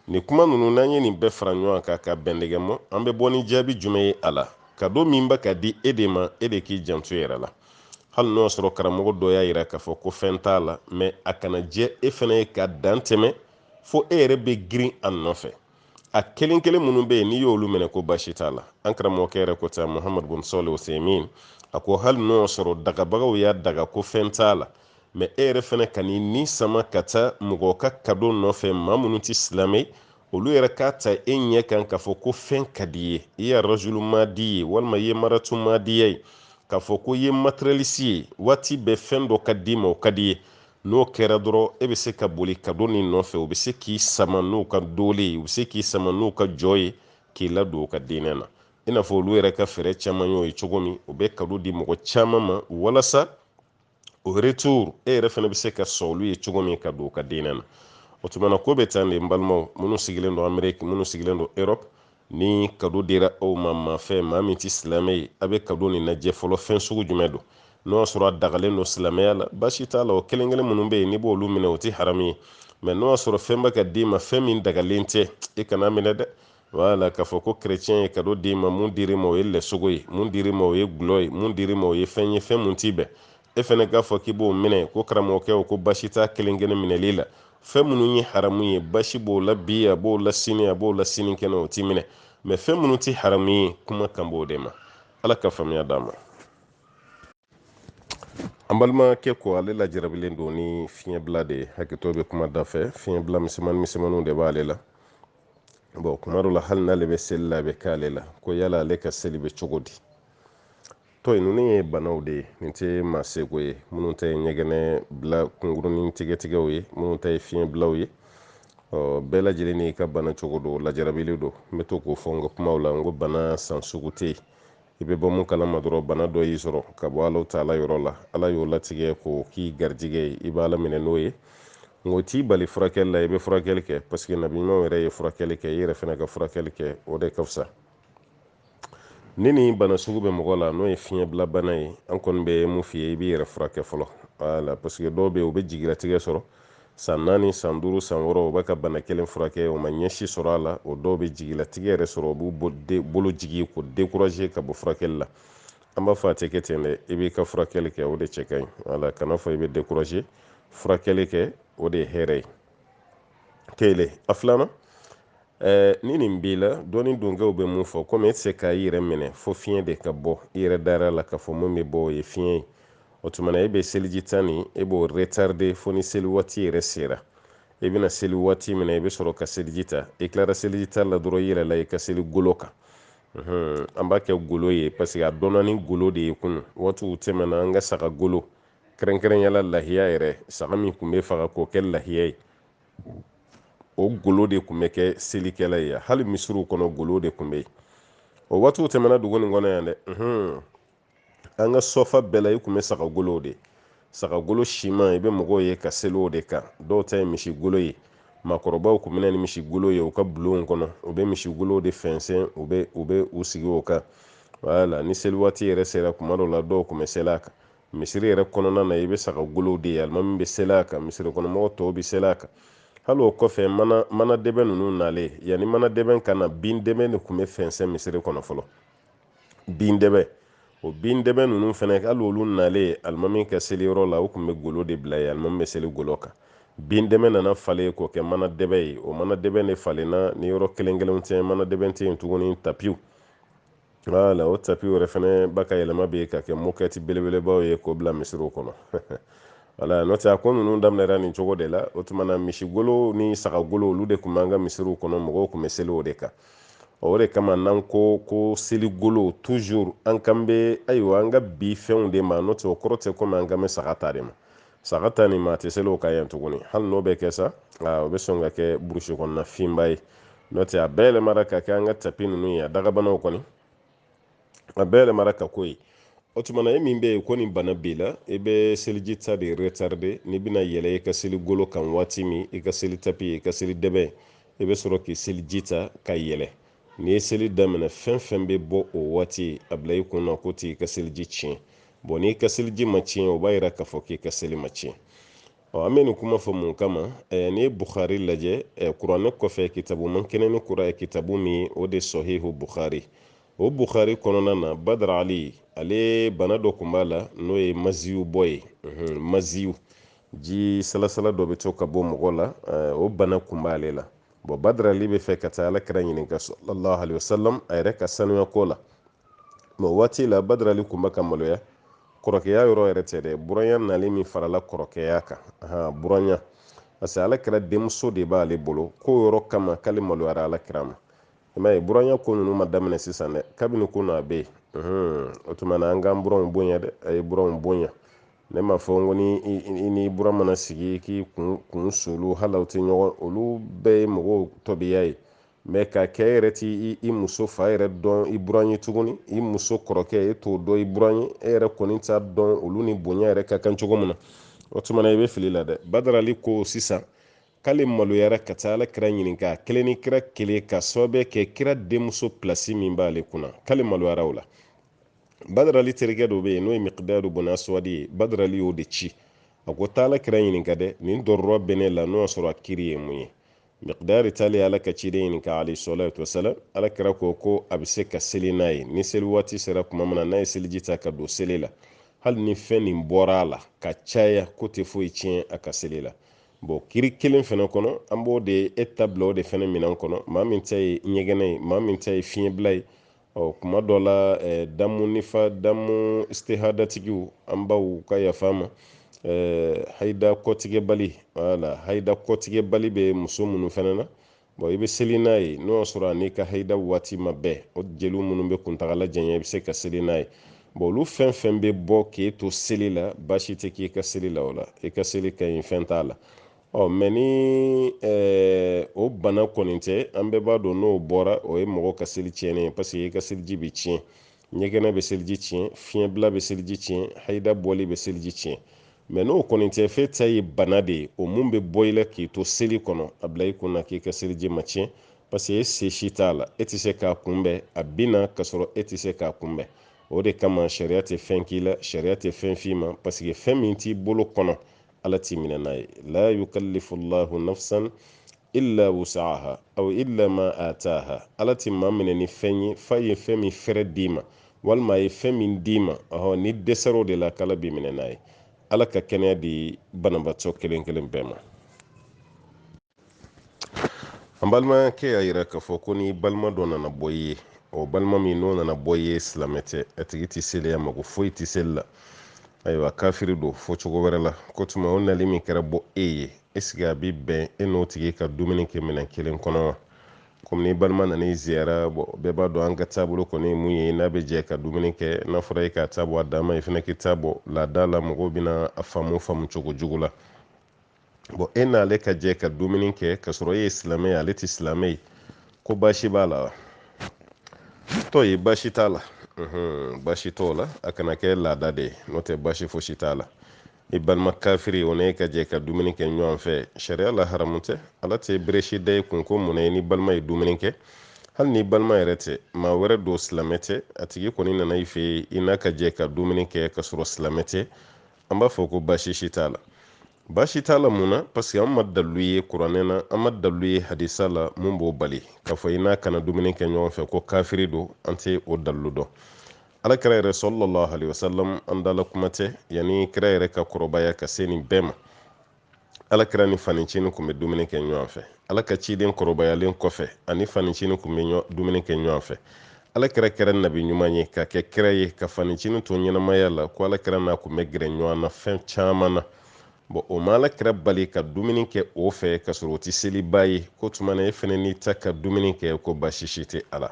Nin kuma ninnu n'an ye nin bɛɛ fara ɲɔgɔn kan ka bɛndɛgɛ mɔ, an bɛ bɔ ni jaabi jumɛn ye a la? Kado min bɛ ka di e de ma, e de k'i janto i yɛrɛ la. Hali n'o y'a sɔrɔ karamɔgɔ dɔ y'a yira k'a fɔ ko fɛn t'a la, mɛ a kana jɛ e fana ye ka dan tɛmɛ fo e yɛrɛ bɛ girin a nɔfɛ. A kelen kelen minnu bɛ yen, n'i y'olu minɛ ko baasi t'a la. An karamɔgɔkɛ yɛrɛ ko ten, Muhammad bun Sɔɔlih Uthaymin, a ko hali n'o y'a sɔrɔ dagabagaw y'a daga ko fɛn t'a la, mɛ e yɛrɛ fana kan'i ni sama ka taa mɔgɔ ka kado nɔfɛ maa minnu tɛ silamɛ olu yɛrɛ k'a ta e ɲɛ kan k'a fɔ ko fɛn ka d'i ye i ye rajulu madi ye walima i ye maratu madiya ye k'a fɔ ko i ye materiyalisi ye waati bɛɛ fɛn dɔ ka d'i ma o ka d'i ye n'o kɛra dɔrɔn e bɛ se ka boli kado nin nɔfɛ u bɛ se k'i sama n'u ka doolen ye u bɛ se k'i sama n'u ka jɔ ye k'i ladon u ka diinɛ na i n'a fɔ olu yɛrɛ ka fɛɛrɛ caman y'o ye cogo min u bɛ kado di mɔgɔ caman ma walasa o retour e yɛrɛ fana bɛ se ka sɔn olu ye cogo min ka don u ka diinɛ na o tuma na ko bɛ tan de n balimaw minnu sigilen don ameriki minnu sigilen don europe ni kado dira aw ma maa fɛ maa min tɛ silamɛ ye a bɛ kado nin lajɛ fɔlɔ fɛn sugu jumɛn don n'o y'a sɔrɔ a dagalen don silamɛya la baasi t'a la o kelen kelen minnu bɛ yen n'i b'olu minɛ o tɛ haramu ye mɛ n'o y'a sɔrɔ fɛn bɛ ka d'i ma fɛn min dagalen tɛ i kan'a minɛ dɛ wala k'a fɔ ko kerecɛn ye kado d'i ma mun dir'i ma o ye lɛsogo ye mun dir'i ma o ye gulɔ ye mun dir'i ma o ye fɛn ye fɛn mun ti bɛn e fɛnɛ k'a fɔ k'i b'o minɛ ko karamɔgɔkɛw ko baasi t'a kelen kelen minɛli la fɛn minnu ye haramu ye baasi b'o la bi a b'o la sini a b'o la sinikɛnɛ o ti minɛ mɛ fɛn minnu tɛ haramu ye kuma kan b'o de ma ala ka faamuya d'an ma an balimakɛ ko ale lajarabilen don ni fiɲɛbila de ye hakɛto bɛ kuma da fɛ fiɲɛbila misɛnmannin misɛnmanninw de b'ale la bɔn kuma dɔ la hali n'ale bɛ seli la a bɛ k'ale la ko yala ale ka seli bɛ cogo di tɔ in ninnu ye banaw de ye nin tɛ maa seko ye minnu ta ye ɲɛgɛnɛ bila kunkurunnin tigɛtigɛw ye minnu ta ye fiɲɛbilaw ye bɛɛ lajɛlen n'i ka bana cogo don lajarabili don n bɛ to k'o fɔ n ka kumaw la n ko bana san sugu tɛ yen i bɛ bɔ mun kalama dɔrɔn bana dɔ y'i sɔrɔ ka bɔ ala taala yɔrɔ la ala y'o latigɛ k'o k'i garijɛgɛ ye i b'a laminɛ n'o ye nk'o t'i bali furakɛli la i bɛ furakɛli kɛ paseke nabi ɲumanw yɛrɛ ye furakɛli kɛ i yɛrɛ fana ka furakɛli kɛ o de ka fisa ni nin bana sugu bɛ mɔgɔ la n'o ye fiɲɛbila bana ye an kɔni bɛ mun f'i ye i b'i yɛrɛ furakɛ fɔlɔ wala paseke dɔw bɛ yen u bɛ jigilatigɛ sɔrɔ San naani san duuru san wɔɔrɔ u bɛ ka bana kelen furakɛ u ma ɲɛ si sɔrɔ a la o dɔw bɛ jigilatigɛ yɛrɛ sɔrɔ u b'u bolo jigin k'u dekuraze ka bɔ furakɛli la an b'a fɔ a tɛ kɛ ten dɛ i b'i ka furakɛli kɛ o de cɛ ka ɲi wala kan'a fɔ i bɛ dekuraze furakɛli kɛ o de ye hɛrɛ ye kelen a filanan eh, ni nin b'i la dɔɔni donkɛw bɛ mun fɔ komi e tɛ se ka i yɛrɛ minɛ fo fiɲɛ de ka bɔ i yɛrɛ dara la k'a fɔ mun bɛ bɔ o ye fiɲɛ ye o tuma na e bɛ seliji ta nin e b'o retarde fo ni seli waati yɛrɛ sera i bɛna seli waati min na i bɛ sɔrɔ ka seliji ta i tilara seliji ta la dɔrɔn i yɛlɛla i ka seli golo kan an b'a kɛ golo ye parce que a dɔnna ni golo de ye kunu waatiw tɛmɛna an ka saga golo kɛrɛnkɛrɛnya la lahiya yɛrɛ saga min tun bɛ faga k'o kɛ lahiya ye o golo de tun bɛ kɛ selikɛla ye hali misiriw kɔnɔ golo de tun bɛ yen o waatiw tɛmɛna dugu nin kɔnɔ yan dɛ an ka so fan bɛɛ la i kun bɛ sagagolow de sagagolo siman i bɛ mɔgɔw ye ka seli o de kan dɔw ta ye misigolo ye maakɔrɔbaw kun bɛ na ni misigolo ye u ka bulonw kɔnɔ u bɛ misigolow de fɛnsɛn u bɛ u bɛ u sigi o kan wala ni seli waati yɛrɛ sera kuma dɔw la dɔw kun bɛ seli a kan misiri yɛrɛ kɔnɔna na i bɛ saga golow de ye alimami bɛ seli a kan misiri kɔnɔmɔgɔ tɔw bɛ seli a kan hali o kɔfɛ mana mana dɛbɛn ninnu nalen yanni mana dɛbɛn ka na bin dɛbɛn de tun bɛ fɛnsɛn misiri kɔnɔ fɔlɔ bin dɛbɛ o bin dɛbɛ ninnu fana hali olu nalen alimami ka seli yɔrɔ la u tun bɛ golo de bila yen alimami bɛ seli golo kan bin dɛbɛ nana falen k'o kɛ mana dɛbɛ ye o mana dɛbɛ de falenna ni yɔrɔ kelen kelenw tɛ mana dɛbɛ tɛ yen tuguni tapiw wala o tapiw yɛrɛ fana bɛ ka yɛlɛma bɛ ka kɛ mokɛti belebelebaw ye k'o bila misiriw kɔnɔ wala n'o tɛ a ko ninnu daminɛra nin cogo de la o tuma na misigolo ni sagagolo olu de tun b'an ka misiriw kɔnɔ mɔgɔw tun bɛ seli o de kan o de kama n'an ko ko seligolo toujours an kan bɛ ayiwa an ka bi fɛnw de ma n'o tɛ o kɔrɔ tɛ komi an kan bɛ saga ta de ma saga ta nin maa tɛ seli o kan yan tuguni hali n'o bɛ kɛ sa o bɛ sɔn ka kɛ burusi kɔnɔna finba ye n'o tɛ a bɛɛ yɛlɛmara ka kɛ an ka tapi ninnu ye a dagabanaw kɔni a bɛɛ yɛlɛmara ka k'o ye o tuma na e min bɛ yen ko nin bana b'i la i bɛ seliji ta de retarde n'i bɛna yɛlɛ i ka seli golo kan waati min i ka seli tapi i ka seli dɛbɛn i bɛ sɔrɔ k'i seliji ta ka yɛlɛ n'i ye seli daminɛ fɛn fɛn bɛ bɔ o waati a bila i kun na k'o t'i ka seliji tiɲɛ bon n'i ka seliji ma tiɲɛ o b'a yira k'a fɔ k'i ka seli ma tiɲɛ ɔ an bɛ nin kuma fɔ mun kama ɛɛ n'i ye bukhari lajɛ ɛɛ kuranɛ kɔfɛ kitabu man kɛnɛ ni kura kitabu min o de sɔhihu bukhari o bukhari kɔnɔna na badara ali ale bana dɔ tun b'a la n'o ye maziyu bɔ ye maziyu ji salasala dɔ bɛ to ka bɔ mɔgɔ la o bana tun b'ale la bon badara ali bɛ fɛ ka taa alakira ɲininka sallallahu alaihi wasallam a yɛrɛ ka sanuya ko la mais waati la badara ali kun bɛ ka maloya kɔrɔkɛya yɔrɔ yɛrɛ tɛ dɛ buranya nalen min farala kɔrɔkɛya kan buranya parce que ala kira denmuso de b'ale bolo k'o yɔrɔ kama k'ale maloyara ala kira ma i m'a ye buranya ko ninnu ma daminɛ sisan dɛ kabini ko n'a bɛ yen o tuma na an k'an buranw bonya dɛ a ye buranw bonya ne m'a fɔ ko ni i ni buran mana sigi k'i kun sulu hali aw tɛ ɲɔgɔn olu bɛɛ ye mɔgɔw tɔbiya ye mɛ ka kɛ yɛrɛ t'i muso fa yɛrɛ dɔn i buran ye tuguni i muso kɔrɔkɛ e t'o dɔn i buran ye e yɛrɛ kɔni t'a dɔn olu ni bonya yɛrɛ ka kan cogo min na o tuma na i bɛ fili la dɛ badarali ko sisan k'ale maloyara ka taa ala kira ɲininka a kelen ni kira kelen ka sababu kɛ kira denmuso pilasi min b'ale kunna k'ale maloyara o la badarali terikɛ dɔ bɛ yen n'o ye mikidadu bun asuwadi ye badarali y'o de ci a ko taa ala kira ɲininka dɛ nin dɔrɔrɔ bɛ ne la n'o y'a sɔrɔ a kiri ye mun ye miqdadi taalen ala ka ciden ɲininka alayhi salatu wasalam ala kira ko ko a bɛ se ka seli n'a ye ni seli waati sera kuma min na n'a ye seliji ta ka don seli la hali ni fɛn nin bɔra a la ka caya k'o tɛ foyi tiɲɛ a ka seli la bɔn kiri kelen fɛnɛ kɔnɔ an b'o de e ta bila o de fɛnɛ minɛn kɔnɔ maa min ta ye ɲɛgɛnɛ ye maa min ta ye fiɲɛbila ye ɔ kuma dɔ la eh, damu nifa damu istihadatigiw an baw ka yafa an ma eh, haida kɔtigɛbali wala haida kɔtigɛbali bɛ muso minnu fana na bɔn i bɛ seli n'a ye n'o y'a sɔrɔ a n'i ka haida waati ma bɛn o jeliw minnu bɛ kuntagala janya i bɛ se ka seli n'a ye bɔn olu fɛn fɛn bɛ bɔ k'e to seli la baasi tɛ k'i ka seli la o la i ka seli ka ɲi fɛn t'a la ɔ mɛ ni o bana kɔni tɛ an bɛɛ b'a dɔn n'o bɔra o ye mɔgɔ ka seli tiɲɛnen ye parce que i ka seliji bɛ tiɲɛ ɲɛgɛnɛ bɛ seliji tiɲɛ fiɲɛbila bɛ seliji tiɲɛ hayida bɔli bɛ seliji tiɲɛ mɛ n'o kɔni tɛ f'e ta ye bana de ye o mun bɛ bɔ i la k'i to seli kɔnɔ a bila i kun na k'i ka seliji ma tiɲɛ parce que e se si t'a la e tɛ se k'a kunbɛn a bɛ na k'a sɔrɔ e tɛ se k'a kunbɛn o de kama sariya tɛ fɛn k'i la sariya tɛ fɛn f'i ma parce que fɛn min t'i bolo kɔnɔ ala t'i minɛ n'a ye la yukallifu llahu nafsan illa wusaaha aw illa ma ataaha ala ti maa minɛ ni fɛn ye f'a ye fɛn min fɛrɛ d'i ma walima a ye fɛn min d'i ma ɔhɔ n'i dɛsɛr'o de la k'ala b'i minɛ n'a ye ala ka kɛnɛya di banabaatɔ kelen kelen bɛɛ ma an balimakɛ y'a yira k'a fɔ ko n'i balima dɔ nana bɔ i ye o balima min n'o nana bɔ i ye silamɛ tɛ a tigi tɛ seli a mako foyi tɛ seli la ayiwa kafiri don fɔ cogo wɛrɛ la k'o tuma o nali min kɛra bɔ e ye esike a bɛ bɛn e n'o tigi ka dumuni kɛ minɛn kelen kɔnɔ wa komi n'i balima nana i ziyara bɛɛ b'a dɔn an ka taabolo kɔni ye mun ye i n'a bɛ jɛ ka dumuni kɛ n'a fɔra e k'a ta bɔ a dan ma i fana k'i ta bɔ laada la mɔgɔw bɛna a faamu faamu cogo jugu la bɔn e n'ale ka jɛ ka dumuni kɛ k'a sɔrɔ e ye silamɛ ye ale tɛ silamɛ ye ko baasi b'a la wa tɔ ye baasi t'a la baasi t'o la a kana kɛ laada de ye n'o tɛ baasi fosi t'a la i balima kafiri o n'e ka jɛ ka dumuni kɛ ɲɔgɔn fɛ sariya la haramu tɛ ala tɛ beresi da i kun ko mun na i n'i balima ye dumuni kɛ hali n'i balima yɛrɛ tɛ maa wɛrɛ don silamɛ tɛ a tigi kɔni nana i fɛ yen i n'a ka jɛ ka dumuni kɛ k'a sɔrɔ silamɛ tɛ an b'a fɔ ko baasi si t'a la baasi t'a la mun na parce que an ma dalilu ye kuranɛ na an ma dalilu ye hadisa la mun b'o bali k'a fɔ i n'a kana dumuni kɛ ɲɔgɔn fɛ ko kafiri don an tɛ o dalilu dɔn ala kira yɛrɛ sallallahu alaihi wasallam an dala kuma tɛ yanni kira yɛrɛ ka kɔrɔbaya ka se nin bɛɛ ma alakira ni fanicini kun bɛ dumuni kɛ ɲɔgɔn fɛ ala ka ciden kɔrɔbayalen kɔfɛ a ni fanicini kun bɛ dumuni kɛ ɲɔgɔn fɛ alakira kɛra nabi ɲuman ye ka kɛ kira ye ka fanicini to ɲɛnamaya la ko alakira n'a kun bɛ gɛrɛ ɲɔgɔn na fɛn caman na bɔn o ma alakira bali ka dumuni kɛ o fɛ ka sɔrɔ o tɛ selibaa ye k'o tuma na e fana n'i ta ka dumuni kɛ ko baasi si tɛ a la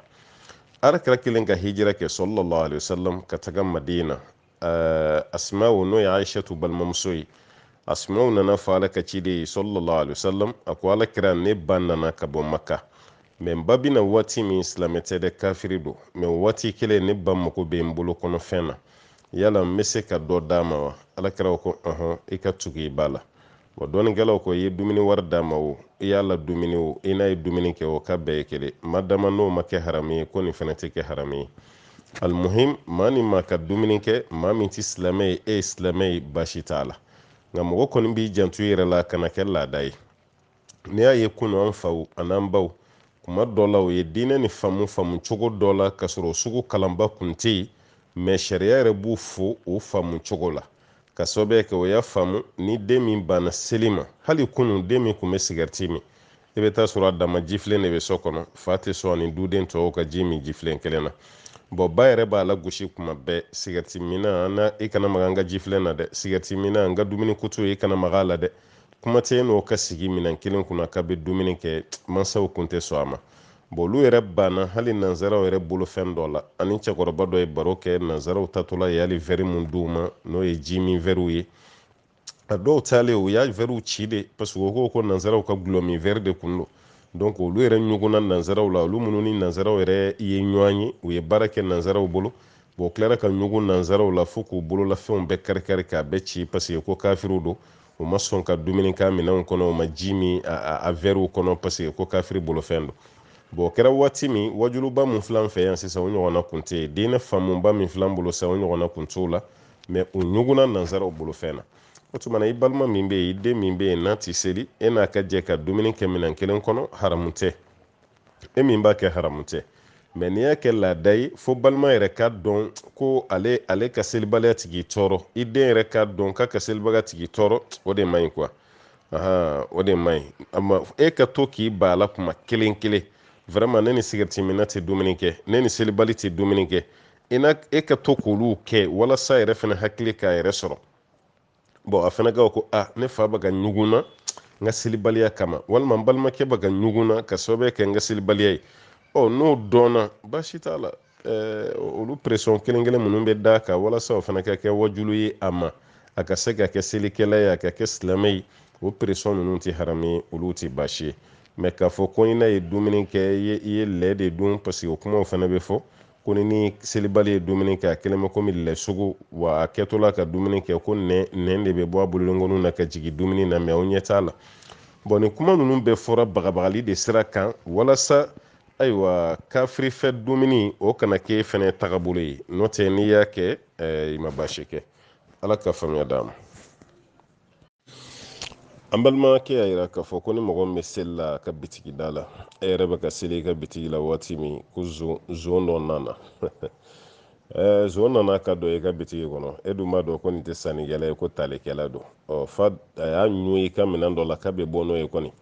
alakira kɛlen ka hijira kɛ sallallahu alaihi wasallam ka taga madina asma'u n'o ye aishatu balimamuso ye asma'u nana fɔ ala ka ciden ye sallallahu alaihi wasallam a ko ala kira ne ba nana ka bɔ maka mɛ n ba bɛ na waati min silamɛ tɛ dɛ kafiri don mɛ waati kelen ne ba mago bɛ n bolo kɔnɔ fɛn na yala n bɛ se ka dɔ d'a ma wa ala kira ko ɔhɔn i ka tugu i ba la Wa dɔnnikɛlaw ko i ye dumuni wari d'a ma o, i y'a ladumuni o, i n'a ye dumuni kɛ o, k'a bɛɛ ye kelen, madama n'o ma kɛ haramu ye, ko nin fana tɛ kɛ haramu ye. Al-muhim, maa ni maa ka dumuni kɛ, maa min tɛ silamɛ ye, e ye silamɛ ye, baasi t'a la. Nka mɔgɔ kɔni b'i janto i yɛrɛ la, a kana kɛ laada ye. N'i y'a ye kunu an faw ani an baw, tuma dɔ la u ye diinɛ nin faamu faamu cogo dɔ la, k'a sɔrɔ o sugu kalanba kun tɛ yen, mais sariya yɛrɛ b'u fo o faamu cogo la. ka sababu kɛ o y'a faamu ni den min banna seli ma hali kunu den min kun bɛ sigɛriti min i bɛ taa sɔrɔ a dama jifilen de bɛ so kɔnɔ fa tɛ sɔn a ni duden tɔw ka ji min jifilen kelen na bɔn ba yɛrɛ b'a lagosi kuma bɛɛ sigɛriti minna i kana maga an ka jifilen na dɛ sigɛriti minna an ka dumuni kutu i kana maga a la dɛ kuma tɛ n'o ka sigi minɛn kelen kunna k'a bɛ dumuni kɛ mansaw kun tɛ sɔn a ma bon olu yɛrɛ banna hali nanzaraw yɛrɛ bolo fɛn dɔ la an ni cɛkɔrɔba dɔ ye baro kɛ nanzaraw taatɔla ye hali vɛri min d'u ma n'o ye ji min vɛriw ye a dɔw taalen u y'a vɛriw ci de parce que u ko ko nanzaraw ka gulɔ min vɛri de kun don donc olu yɛrɛ ɲugunna nanzaraw la olu minnu ni nanzaraw yɛrɛ ye ɲɔgɔn ye u ye baara kɛ nanzaraw bolo bon u tilara ka ɲugun nanzaraw la fo k'u bololafɛnw bɛɛ karikari k'a bɛɛ ci parce que ko kafiriw don u ma sɔn ka dumuni k'a minɛnw kɔnɔ u ma ji min a vɛriw kɔnɔ parce que ko kafiri bolofɛn don bɔn o kɛra waati min waajuluba min filɛ an fɛ yan sisan o ɲɔgɔnna kun tɛ yen diinɛ faamuba min filɛ an bolo sisan o ɲɔgɔnna kun t'o la mɛ u ɲugunna nansaraw bolofɛn na o tuma na i balima min bɛ yen i den min bɛ yen n'a tɛ seli e n'a ka jɛ ka dumuni kɛ minɛn kelen kɔnɔ haramu tɛ e min b'a kɛ haramu tɛ mɛ n'i y'a kɛ laada ye fo balima yɛrɛ k'a dɔn ko ale ale ka selibaliya tɛ k'i tɔɔrɔ i den yɛrɛ k'a dɔn k'a ka selibaliya tɛ k'i tɔɔrɔ o de man ɲi quoi o de man ɲi e ka to k'i ban a la kuma kelen kelen vraiment ne ni sigɛriti minna tɛ dumuni kɛ ne ni selibali tɛ dumuni kɛ e ka to k'olu kɛ walasa a yɛrɛ fana hakili k'a yɛrɛ sɔrɔ bɔn a fana ka ko a ne fa bɛ ka ɲugun n na n ka selibaliya kama walima n balimakɛ bɛ ka ɲugun n na ka sababu kɛ n ka selibaliya ye ɔ n'o dɔnna baasi t'a la eh, olu pression kelen kelen minnu bɛ d'a kan walasa o fana ka kɛ wajulu ye a ma a ka se ka kɛ selikɛla ye a ka kɛ silamɛ ye o pression ninnu tɛ haramu ye olu tɛ baasi ye mɛ k'a fɔ ko i n'a ye dumuni kɛ i ye lɛ de dun parce que o kumaw fana bɛ fɔ ko n'i ni selibali ye dumuni kɛ a kɛlen bɛ komi lɛ sogo wa a kɛtɔla ka dumuni kɛ ko nɛn nɛn de bɛ bɔ a bolonkɔninw na ka jigin dumuni na mɛ aw ɲɛ t'a la bɔn nin kuma ninnu bɛɛ fɔra bagabagali de sira kan walasa ayiwa kafiri fɛ dumuni o kana k'e fɛnɛ tagabolo ye n'o tɛ n'i y'a kɛ eh, i ma baasi kɛ ala ka faamuya d'an ma an balimakɛ y'a yira k'a fɔ ko ni mɔgɔ min bɛ seli la a ka bitigi da la e yɛrɛ bɛ ka seli i ka bitigi la waati min ko zon dɔ nana zon nana ka don i ka bitigi kɔnɔ e dun b'a dɔn ko nin tɛ sannikɛla ye ko talikɛla don ɔ fo a y'a ɲun i ka minɛn dɔ la k'a bɛ bɔ n'o ye kɔni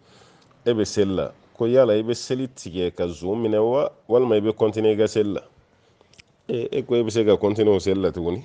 e bɛ seli la ko yala i bɛ seli tigɛ ka zon minɛ wa walima i bɛ kɔntiniye i ka seli la e ko e bɛ se ka kɔntiniye o seli la tuguni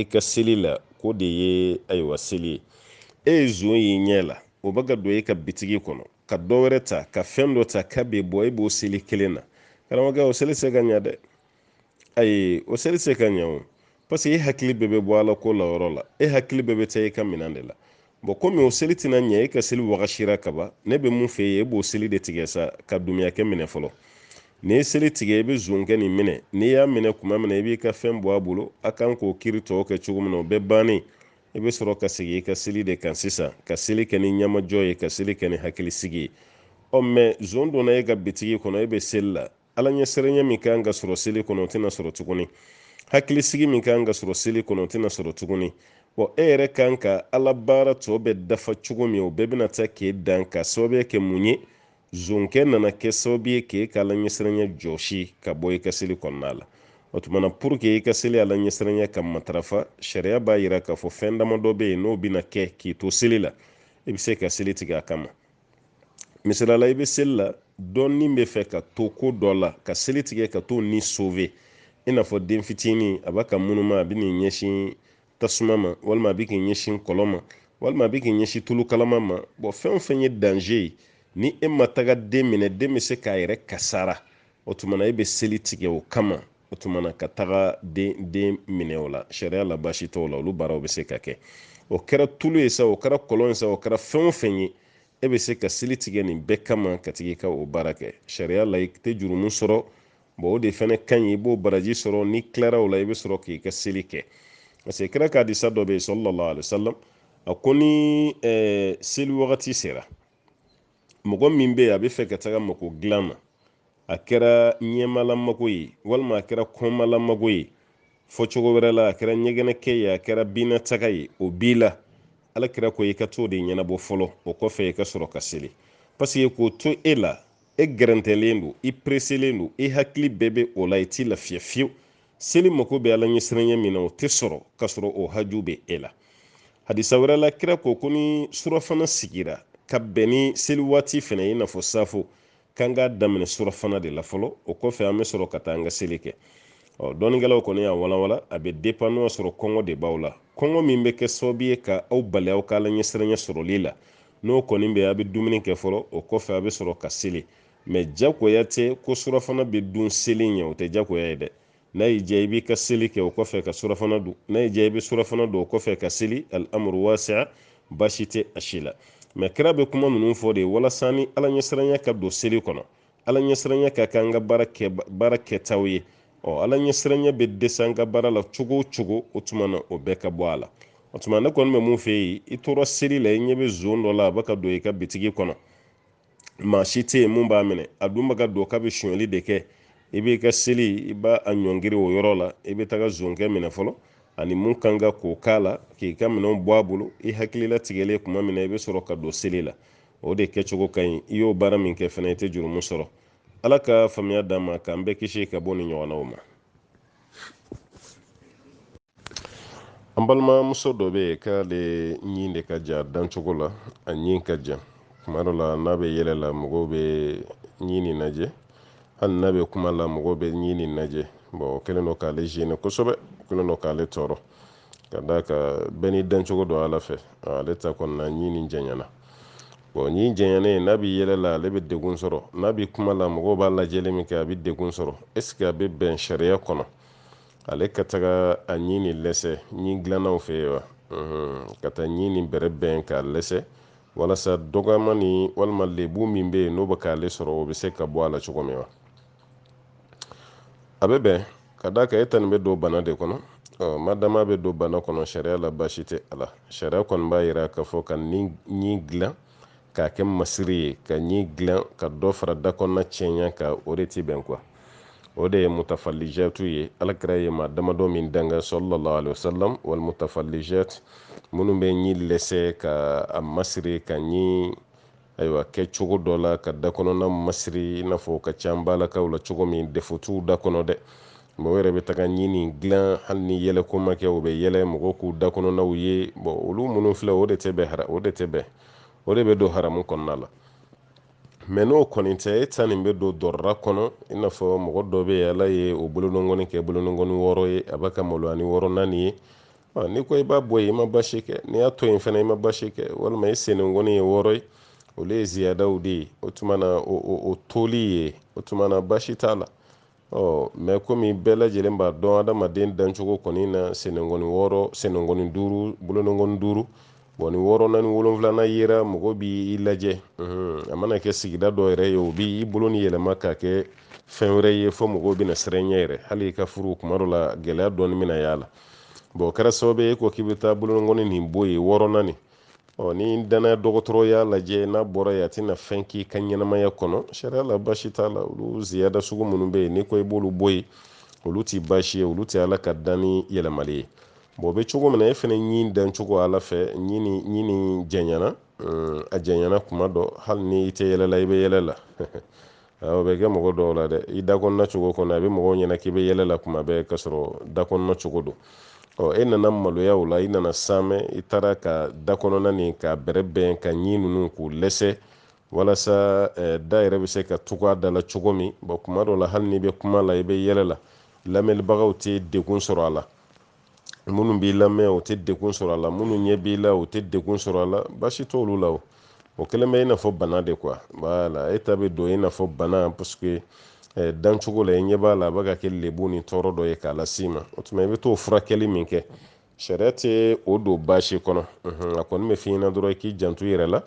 i ka seli la ko de ye ayiwa seli ye e ye zon y'i ɲɛ la o bɛ ka don e ka bitigi kɔnɔ ka dɔ wɛrɛ ta ka fɛn dɔ ta k'a bɛ bɔ e b'o seli kelen na karamɔgɔkɛ o seli se ka ɲa dɛ ayi o seli se ka ɲa o parce que e hakili bɛɛ bɛ bɔ ala ko la yɔrɔ la e hakili bɛɛ bɛ taa e ka minɛn de la bɔn komi o seli tɛna ɲɛ e ka seli wagasira kaban ne bɛ mun f'e ye e b'o seli de tigɛ sa ka dumuyakɛ minɛ fɔlɔ n'i ye seli tigɛ i bɛ zonkɛ nin minɛ n'i y'a minɛ kuma min na i b'i ka fɛn bɔ a bolo a kan k'o kiri tɔw kɛ cogo min na o bɛɛ bannen i bɛ sɔrɔ ka segin i ka seli de kan sisan ka seli kɛ ni ɲamajɔ ye ka seli kɛ ni hakilisigi ye ɔ mɛ zon donna e ka bitigi kɔnɔ e bɛ seli la ala ɲɛsiranya min kan ka sɔrɔ seli kɔnɔ o tɛna sɔrɔ tuguni hakilisigi min kan ka sɔrɔ seli kɔnɔ o tɛna sɔrɔ tuguni wa e yɛrɛ kan ka ala baara tɔ bɛɛ dafa cogo min o bɛɛ bɛna taa k'e dan ka sababuya kɛ mun ye zonkɛ nana kɛ sababu ye k'e ka ala ɲɛsiranya jɔsi ka bɔ i ka seli kɔnɔna la o tumana pour que i ka seli ala ɲɛsiranya ka matarafa sariya b'a yira k'a fɔ fɛn damadɔ bɛ yen n'o bɛna kɛ k'i to seli la i bɛ se ka seli tigɛ a kama misali la i bɛ seli la dɔ ni bɛ fɛ ka to ko dɔ la ka seli tigɛ ka t'o ni sove i n'a fɔ den fitinin a b'a ka munuma a bɛ n'i ɲɛsin tasuma ma walima a bɛ k'i ɲɛsin kɔlɔn ma walima a bɛ k'i ɲɛsin tulu kalama ma bɔn fɛn o fɛn ye danze ye ni e ma taga den minɛ den bɛ se k'a yɛrɛ kasara o tuma na e bɛ seli tigɛ o kama o tumana ka taga den den minɛ o la sariya la baasi t'o la olu baaraw bɛ se ka kɛ o kɛra tulu ye sa o kɛra kɔlɔn ye sa o kɛra fɛn o fɛn ye e bɛ se ka seli tigɛ nin bɛɛ kama ka tag'i ka o baara kɛ sariya la i tɛ jurumu sɔrɔ bɔn o de fana ka ɲi i b'o baraji sɔrɔ n'i tilara o la i bɛ sɔrɔ k'i ka seli kɛ parce que kira ka hadisa dɔ bɛ yen salalahu alayihi wasalam a ko ni seli wagati sera mɔgɔ min bɛ yen a bɛ fɛ ka taga mako dilan na a kɛra ɲɛmalamako ye walima a kɛra kɔmalamako ye fɔcogo wɛrɛ la a kɛra ɲɛgɛnɛkɛ ye a kɛra binnataga ye o b'i la ala kira ko i ka t'o de ɲɛnabɔ fɔlɔ o kɔfɛ i ka sɔrɔ ka seli paseke k'o to e la e gɛrɛntɛlen don i pereselen don i hakili bɛɛ bɛ o la i t'i lafiya fiyewu seli mako bɛ ala ɲɛsiranya min na o tɛ sɔrɔ ka sɔrɔ o haju bɛ e la hadisa wɛrɛ la kira ko ko ni surafana sigira ka bɛn ni seli waati fana ye i n'a fɔ safo k'an k'a daminɛ surafana de la fɔlɔ o kɔfɛ an bɛ sɔrɔ ka taa an ka seli kɛ ɔ dɔnnikɛlaw kɔni y'a walawala a bɛ depan n'o y'a sɔrɔ kɔngɔ de b'aw la kɔngɔ min bɛ kɛ sababu ye ka aw bali aw ka ala ɲɛsiranya sɔrɔli la n'o kɔni bɛ a bɛ dumuni kɛ fɔlɔ o kɔfɛ a bɛ sɔrɔ ka seli mɛ jagoya tɛ ko surafana bɛ dun seli ɲɛ o tɛ jagoya ye dɛ n'a y'i diya i b'i ka seli kɛ o kɔfɛ ka surafana dun n'a y'i diya i bɛ surafana dun o kɔfɛ ka seli al'amuru wasiya baasi tɛ a si la mɛ kira bɛ kuma ninnu fɔ de walasa ni ala ɲɛsiranya ka don seli kɔnɔ ala ɲɛsiranya ka kɛ an ka baara kɛ baara kɛtaw ye ɔ ala ɲɛsiranya bɛ dɛsɛ an ka baara la cogo o cogo o tuma na o bɛɛ ka bɔ a la o tuma ne kɔni bɛ mun fɛ yen i tora seli la i ɲɛ bɛ zon dɔ la a bɛ ka don i ka bitigi kɔnɔ maa si tɛ yen mun b'a minɛ a dun bɛ ka don k'a bɛ sonyali de kɛ i b'i ka seli i b'a ɲɔngiri o yɔrɔ la i bɛ taga zonkɛ minɛ fɔlɔ ani mun kan ka k'o k'a la k'i ka minɛnw bɔ a bolo i hakili latigɛlen kuma min na i bɛ sɔrɔ ka don seli la o de kɛcogo ka ɲi i y'o baara min kɛ fana i tɛ jurumu sɔrɔ ala ka faamuya d'an ma k'an bɛɛ kisi ka bɔ nin ɲɔgɔnnaw ma an balimamuso dɔ bɛ yen k'ale ɲin de ka jan a dancogo la a ɲin ka jan kuma dɔ la n'a bɛ yɛlɛ la mɔgɔw bɛ ɲin nin lajɛ hali n'a bɛ kuma la mɔgɔw bɛ ɲin nin lajɛ bɔn o kɛlen don k'ale zene kosɛbɛ o kɛlen don k'ale tɔɔrɔ ka d'a kan bɛɛ n'i dancogo don ala fɛ ale ta kɔni na ɲi nin janyana bɔn ɲi janyanen n'a bɛ yɛlɛ la ale bɛ degun sɔrɔ n'a bɛ kuma la mɔgɔw b'a lajɛli min kɛ a bɛ degun sɔrɔ est-ce que a bɛ bɛn sariya kɔnɔ ale ka taga a ɲi nin lɛsɛ ɲi dilannaw fɛ yen wa ka taa ɲi nin bɛrɛbɛn k'a lɛsɛ walasa dɔgɔmani walima lebu min bɛ yen n'o bɛ k'ale sɔrɔ o bɛ se ka bɔ a la cogo min wa a bɛ bɛn ka d'a kan e ta nin bɛ don bana de kɔnɔ ɔ madama bɛ don bana kɔnɔ sariya la baasi tɛ a la sariya kɔni b'a yira k'a fɔ ka ni ɲi dilan k'a kɛ masiri ye ka ɲi dilan ka dɔ fara da kɔnɔna cɛɲa kan o de ti bɛn kuwa o de ye mutafalijatu ye ala kira ye maa damadɔ min danga sallallahu alaihi wasallam wal mutafalijat minnu bɛ ɲi lɛsɛ ka a masiri ka ɲi ayiwa kɛ cogo dɔ la ka da kɔnɔna masiri i n'a fɔ o ka ca balakaw la cogo min défaut t'u da kɔnɔ dɛ mɔgɔ yɛrɛ bɛ taga ɲi nin dilan hali ni yɛlɛ ko ma kɛ o bɛ yɛlɛ mɔgɔw k'u da kɔnɔnaw ye bɔn olu minnu filɛ o de tɛ bɛn hara o de tɛ bɛn o de bɛ don haramu kɔnɔna la mɛ n'o kɔni tɛ e ta nin bɛ don dɔrɔra kɔnɔ i n'a fɔ mɔgɔ dɔ bɛ yen ala ye o bolonɔngɔni kɛ bolonɔngɔni wɔɔrɔ ye a b'a ka maloya ni wɔɔrɔnan nin ye n'i ko i b'a bɔ yen i ma basi kɛ n'i y'a to yen fana i ma basi kɛ walima i senengɔni ye wɔɔrɔ ye olu ye ziyadaw de ye o tuma na o toli ye o tuma na basi t'a la ɔ mɛ komi bɛɛ lajɛlen b'a dɔn adamaden dancogo kɔni na senengɔni wɔɔrɔ senengɔni duuru bolonongɔni duuru bɔn ni wɔɔrɔnan ni wolonfilanan yera mɔgɔ bi i lajɛ a mana kɛ sigida dɔ yɛrɛ ye o bi i bolo nin yɛlɛma k'a kɛ fɛn wɛrɛ ye fɔ mɔgɔw bɛna siran i ɲɛ yɛrɛ hali i ka furu kuma dɔ la gɛlɛya dɔɔni bɛna y'a la bɔn kɛra sababu ye ko k'i bɛ taa bolonɔngɔni nin bɔ yen wɔɔrɔnan nin ɔ ni dannaya dɔgɔtɔrɔ y'a lajɛ n'a bɔra yen a tɛna fɛn k'i ka ɲɛnamaya kɔnɔ sariya la basi t'a la olu ziyada sugu minnu bɛ yen n'i ko i b'olu bɔ yen olu tɛ basi ye olu tɛ ala ka danni yɛlɛmali ye bɔn o bɛ cogo min na e fana ɲin dancogo ala fɛ ɲi nin janyana a janyana kuma dɔ hali ni i tɛ yɛlɛ la i bɛ yɛlɛ la o bɛ kɛ mɔgɔ dɔw la dɛ i da kɔnɔna cogo kɔnɔ a bɛ mɔgɔw ɲɛna k'i bɛ yɛlɛ la kuma bɛɛ k'a sɔrɔ da kɔnɔna cogo don ɔ e nana maloya o la i nana saamɛ i taara ka da kɔnɔna nin k'a bɛrɛbɛn ka ɲi ninnu k'u lɛsɛ walasa eh, da yɛrɛ bɛ se ka tugu a da la cogo min bɔn kuma dɔ la hali n'i bɛ kuma la i bɛ yɛlɛ la lamɛnlibagaw tɛ degun sɔrɔ a la minnu b'i lamɛn o tɛ degun sɔrɔ a la minnu ɲɛ b'i la o tɛ degun sɔrɔ a la baasi t'olu la o o kɛlen bɛ i n'a fɔ bana de kuwa wala e ta bɛ don i n'a fɔ bana parce que eh, dancogo la i ɲɛ b'a la a bɛ ka kɛ lebu ni tɔɔrɔ dɔ ye k'a las'i ma o tuma i bɛ t'o furakɛli min kɛ sariya tɛ o don baasi kɔnɔ a kɔni bɛ f'i ɲɛna dɔrɔn i k'i janto i yɛrɛ la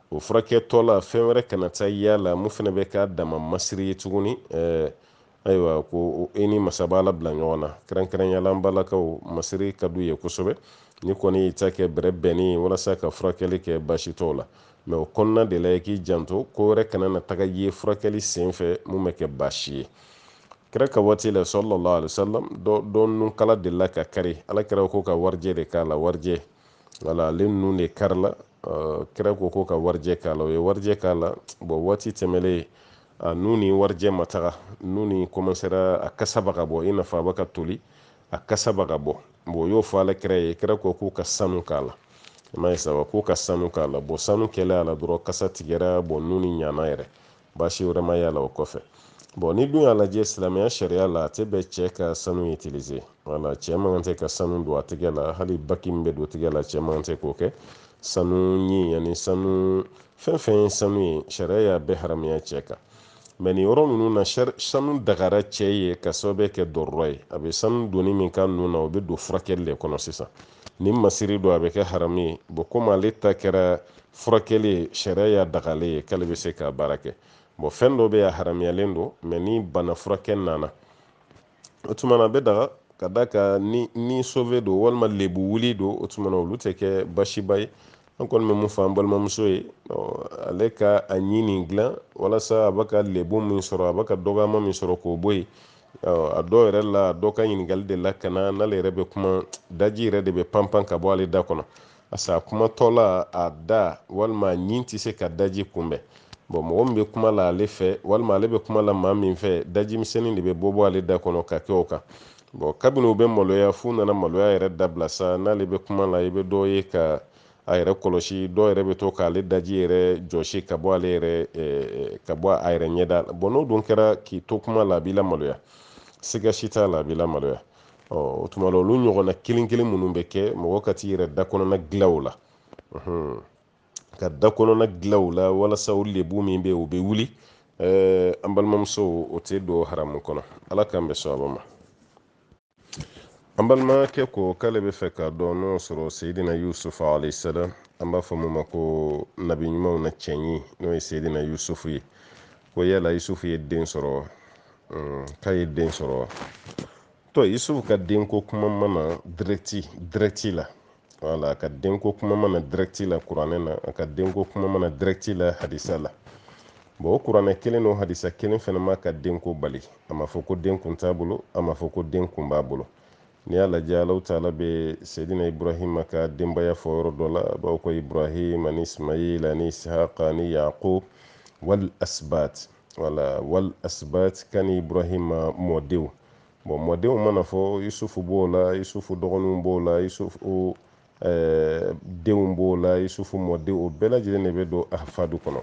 o furakɛtɔ la fɛn wɛrɛ kana taa y'a la min fana bɛ k'a dama masiri ye tuguni eh, ayiwa ko e ni masa b'a la bila ɲɔgɔn na kɛrɛnkɛrɛnyala an balakaw masiri ka d'u ye kosɛbɛ n'i kɔni y'i ta kɛ bɛrɛ bɛnni ye walasa ka furakɛli kɛ baasi t'o la mɛ o kɔnɔna de la i k'i janto ko wɛrɛ kana na taga ye furakɛli sen fɛ min bɛ kɛ baasi ye kira ka waati la sallallahu alaihi wasallam dɔ nunkala delila ka kari ala kira ko ka warijɛ de k'a la warijɛ wala ale nun de karila kira ko k'u ka warijɛ k'a la u ye warijɛ k'a la bɔn waati tɛmɛlen a nun ni warijɛ ma taga nun nin kɔmansera a kasa bɛ ka bɔ i n'a fɔ a bɛ ka toli a kasa bɛ ka bɔ bɔn u y'o fɔ ala kira ye kira ko k'u ka sanu k'a la i m'a ye sa wa k'u ka sanu k'a la bɔn sanu kɛlen a la dɔrɔn kasa tigɛra bɔn nun nin ɲana yɛrɛ baasi wɛrɛ ma y'a la o kɔfɛ bɔn n'i dun y'a lajɛ silamɛya sariya la a tɛ bɛn cɛɛ ka sanu itilize wala cɛɛ man kan tɛ ka sanu don a tigɛ la hali bagi min bɛ don tigɛ la cɛɛ man kan tɛ k'o kɛ sanu ɲin ani sanu fɛn fɛn ye sanu ye sariya y'a bɛɛ haramuya cɛɛ kan mɛ nin yɔrɔ ninnu na sanu dagara cɛɛ ye ka sababu kɛ dɔrɔrɔ ye a bɛ sanu donni min kɛ nun na o bɛ don furakɛli de kɔnɔ sisan ni masiri don a bɛ kɛ haramu ye bɔn komi ale ta kɛra furakɛli ye sariya y'a daga ale ye k'ale bɛ se k'a baara kɛ bɔn fɛn dɔ bɛ yen a haramuyalen don mɛ ni bana furakɛ nana o tuma na a bɛ daga ka d'a kan ni ni sove don walima lebu wuli don o tuma na olu tɛ kɛ baasiba ye an kɔni bɛ min fɔ an balimamuso ye ale ka a ɲin nin dilan walasa a bɛ ka lebu min sɔrɔ a bɛ ka dɔgɔyama min sɔrɔ k'o bɔ yen a dɔw yɛrɛ la dɔ ka ɲininkali delila ka na n'ale yɛrɛ bɛ kuma daji yɛrɛ de bɛ panpan ka bɔ ale da kɔnɔ parce que a kumatɔla a da walima a ɲin tɛ se ka daji kunbɛn bɔn mɔgɔ min bɛ kuma la ale fɛ walima ale bɛ kuma la maa min fɛ daji misɛnnin de bɛ bɔ bɔ ale da kɔnɔ ka kɛ o kan bɔn kabini u bɛ maloya f'u nana maloya yɛrɛ dabila sa n'ale bɛ kuma la i bɛ dɔ ye k'a yɛrɛ kɔlɔsi dɔw yɛrɛ bɛ to k'ale daji yɛrɛ jɔsi ka bɔ ale yɛrɛ eh, eh, ka bɔ a yɛrɛ ɲɛda la bɔn n'o dun kɛra k'i to kuma la a b'i lamaloya siga si t'a la a b'i lamaloya o tuma na olu ɲɔgɔnna kelen kelen minnu bɛ kɛ mɔgɔ ka t'i yɛrɛ da kɔnɔna dilan o la ka da kɔnɔna dilan o la walasa o lebu min bɛ yen o bɛ wuli an balimamuso o tɛ don haramu kɔnɔ ala k'an bɛn sawaba ma an balimakɛ ko k'ale bɛ fɛ k'a dɔn n'o sɔrɔ seyidina yusufu alaihi salam an b'a fɔ min ma ko nabi ɲumanw na cɛɲi n'o ye seyidina yusufu ye ko yala yusufu ye den sɔrɔ wa hmm, k'a ye den sɔrɔ wa to yusufu ka denko kuma ma na dirɛti dirɛti la wala a ka denko kuma ma na dirɛti la kuranɛ na a ka denko kuma ma na dirɛti la hadisa la bɔn o kuranɛ kelen n'o hadisa kelen fɛnɛ m'a ka denko bali a ma fɔ ko den kun t'a bolo a ma fɔ ko den kun b'a bolo n'i y'a lajɛ alahu taala bɛ seyidina ibrahima ka denbaya fɔ yɔrɔ dɔ la a b'a fɔ ko ibrahim ani ismail ani isihaka ani yaqub wal asbat wala wal asbat kani ibrahima mɔdenw bɔn mɔdenw mana fɔ yusufu b'o la yusufu dɔgɔninw b'o la yusufu denw b'o la yusufu mɔdenw o bɛɛ lajɛlen de bɛ don ahfadu kɔnɔ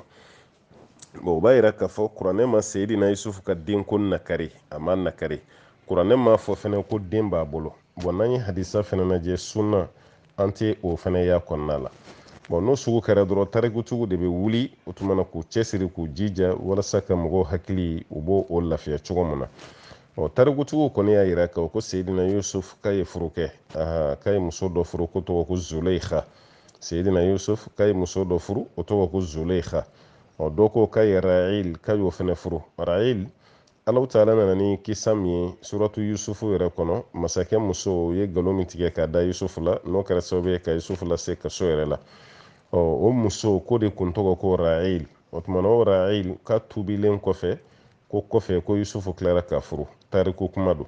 bon o b'a yira k'a fɔ kuranɛ ma seyidina yusufu ka denko nakari a ma nakari kuranɛ m'a fɔ fɛnɛ ko den b'a bolo bɔn n'an ye hadisa fɛnɛ lajɛ sunna an tɛ o fɛnɛ y'a kɔnɔna la bɔn n'o sugu kɛra dɔrɔn tarikutigiw de bɛ wuli o tuma na k'u cɛsiri k'u jija walasa ka mɔgɔw hakili u b'o o lafiya cogo min na ɔ tarikutigiw kɔni y'a yira k'a ko seyidina yusuf k'a ye furu kɛ k'a ye muso dɔ furu k'o tɔgɔ ko zuleikha seyidina yusuf k'a ye muso dɔ furu o tɔgɔ ko zuleikha ɔ dɔ ko k'a ye rail k'a y'o fɛnɛ furu rail alahu taala nana ni kisa min ye suratu yusufu yɛrɛ kɔnɔ masakɛ muso ye galon min tigɛ k'a da yusufu la n'o kɛra sababu ye ka yusufu lase kaso yɛrɛ la ɔ o muso k'o de kun tɔgɔ ko rail o tuma na o rail ka tuubilen kɔfɛ ko kɔfɛ ko yusufu tilara k'a furu tariku kuma don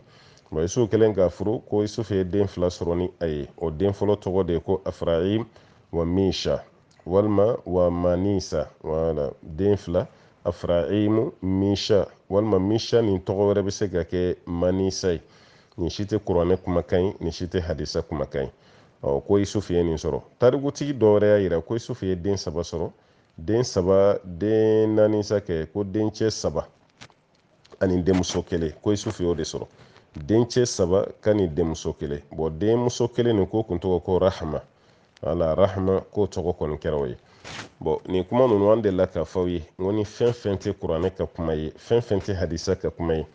nka yusufu kɛlen k'a furu ko yusufu ye den fila sɔrɔ ni a ye o den fɔlɔ tɔgɔ de ye ko afraim wa misha walima wa manisa wala den fila afraimu misha walima misha nin tɔgɔ wɛrɛ bɛ se ka kɛ manisa ye nin si tɛ kuranɛ kumakan ye nin si tɛ hadisa kumakan ye ɔ ko yusufu ye nin sɔrɔ tarikutigi dɔ wɛrɛ y'a yira ko yusufu ye den saba sɔrɔ den saba den naani sa kɛ ko dencɛ saba ani denmuso kelen ko isufu y'o de sɔrɔ dencɛ saba ka ni denmuso kelen bɔn denmuso kelen nin k'o kun tɔgɔ ko rahama wala rahama k'o tɔgɔ kɔni kɛra o ye bɔn nin kuma ninnu an delila k'a fɔ aw ye n ko ni fɛn fɛn tɛ kuranɛ ka kuma ye fɛn fɛn tɛ hadisa ka kuma ye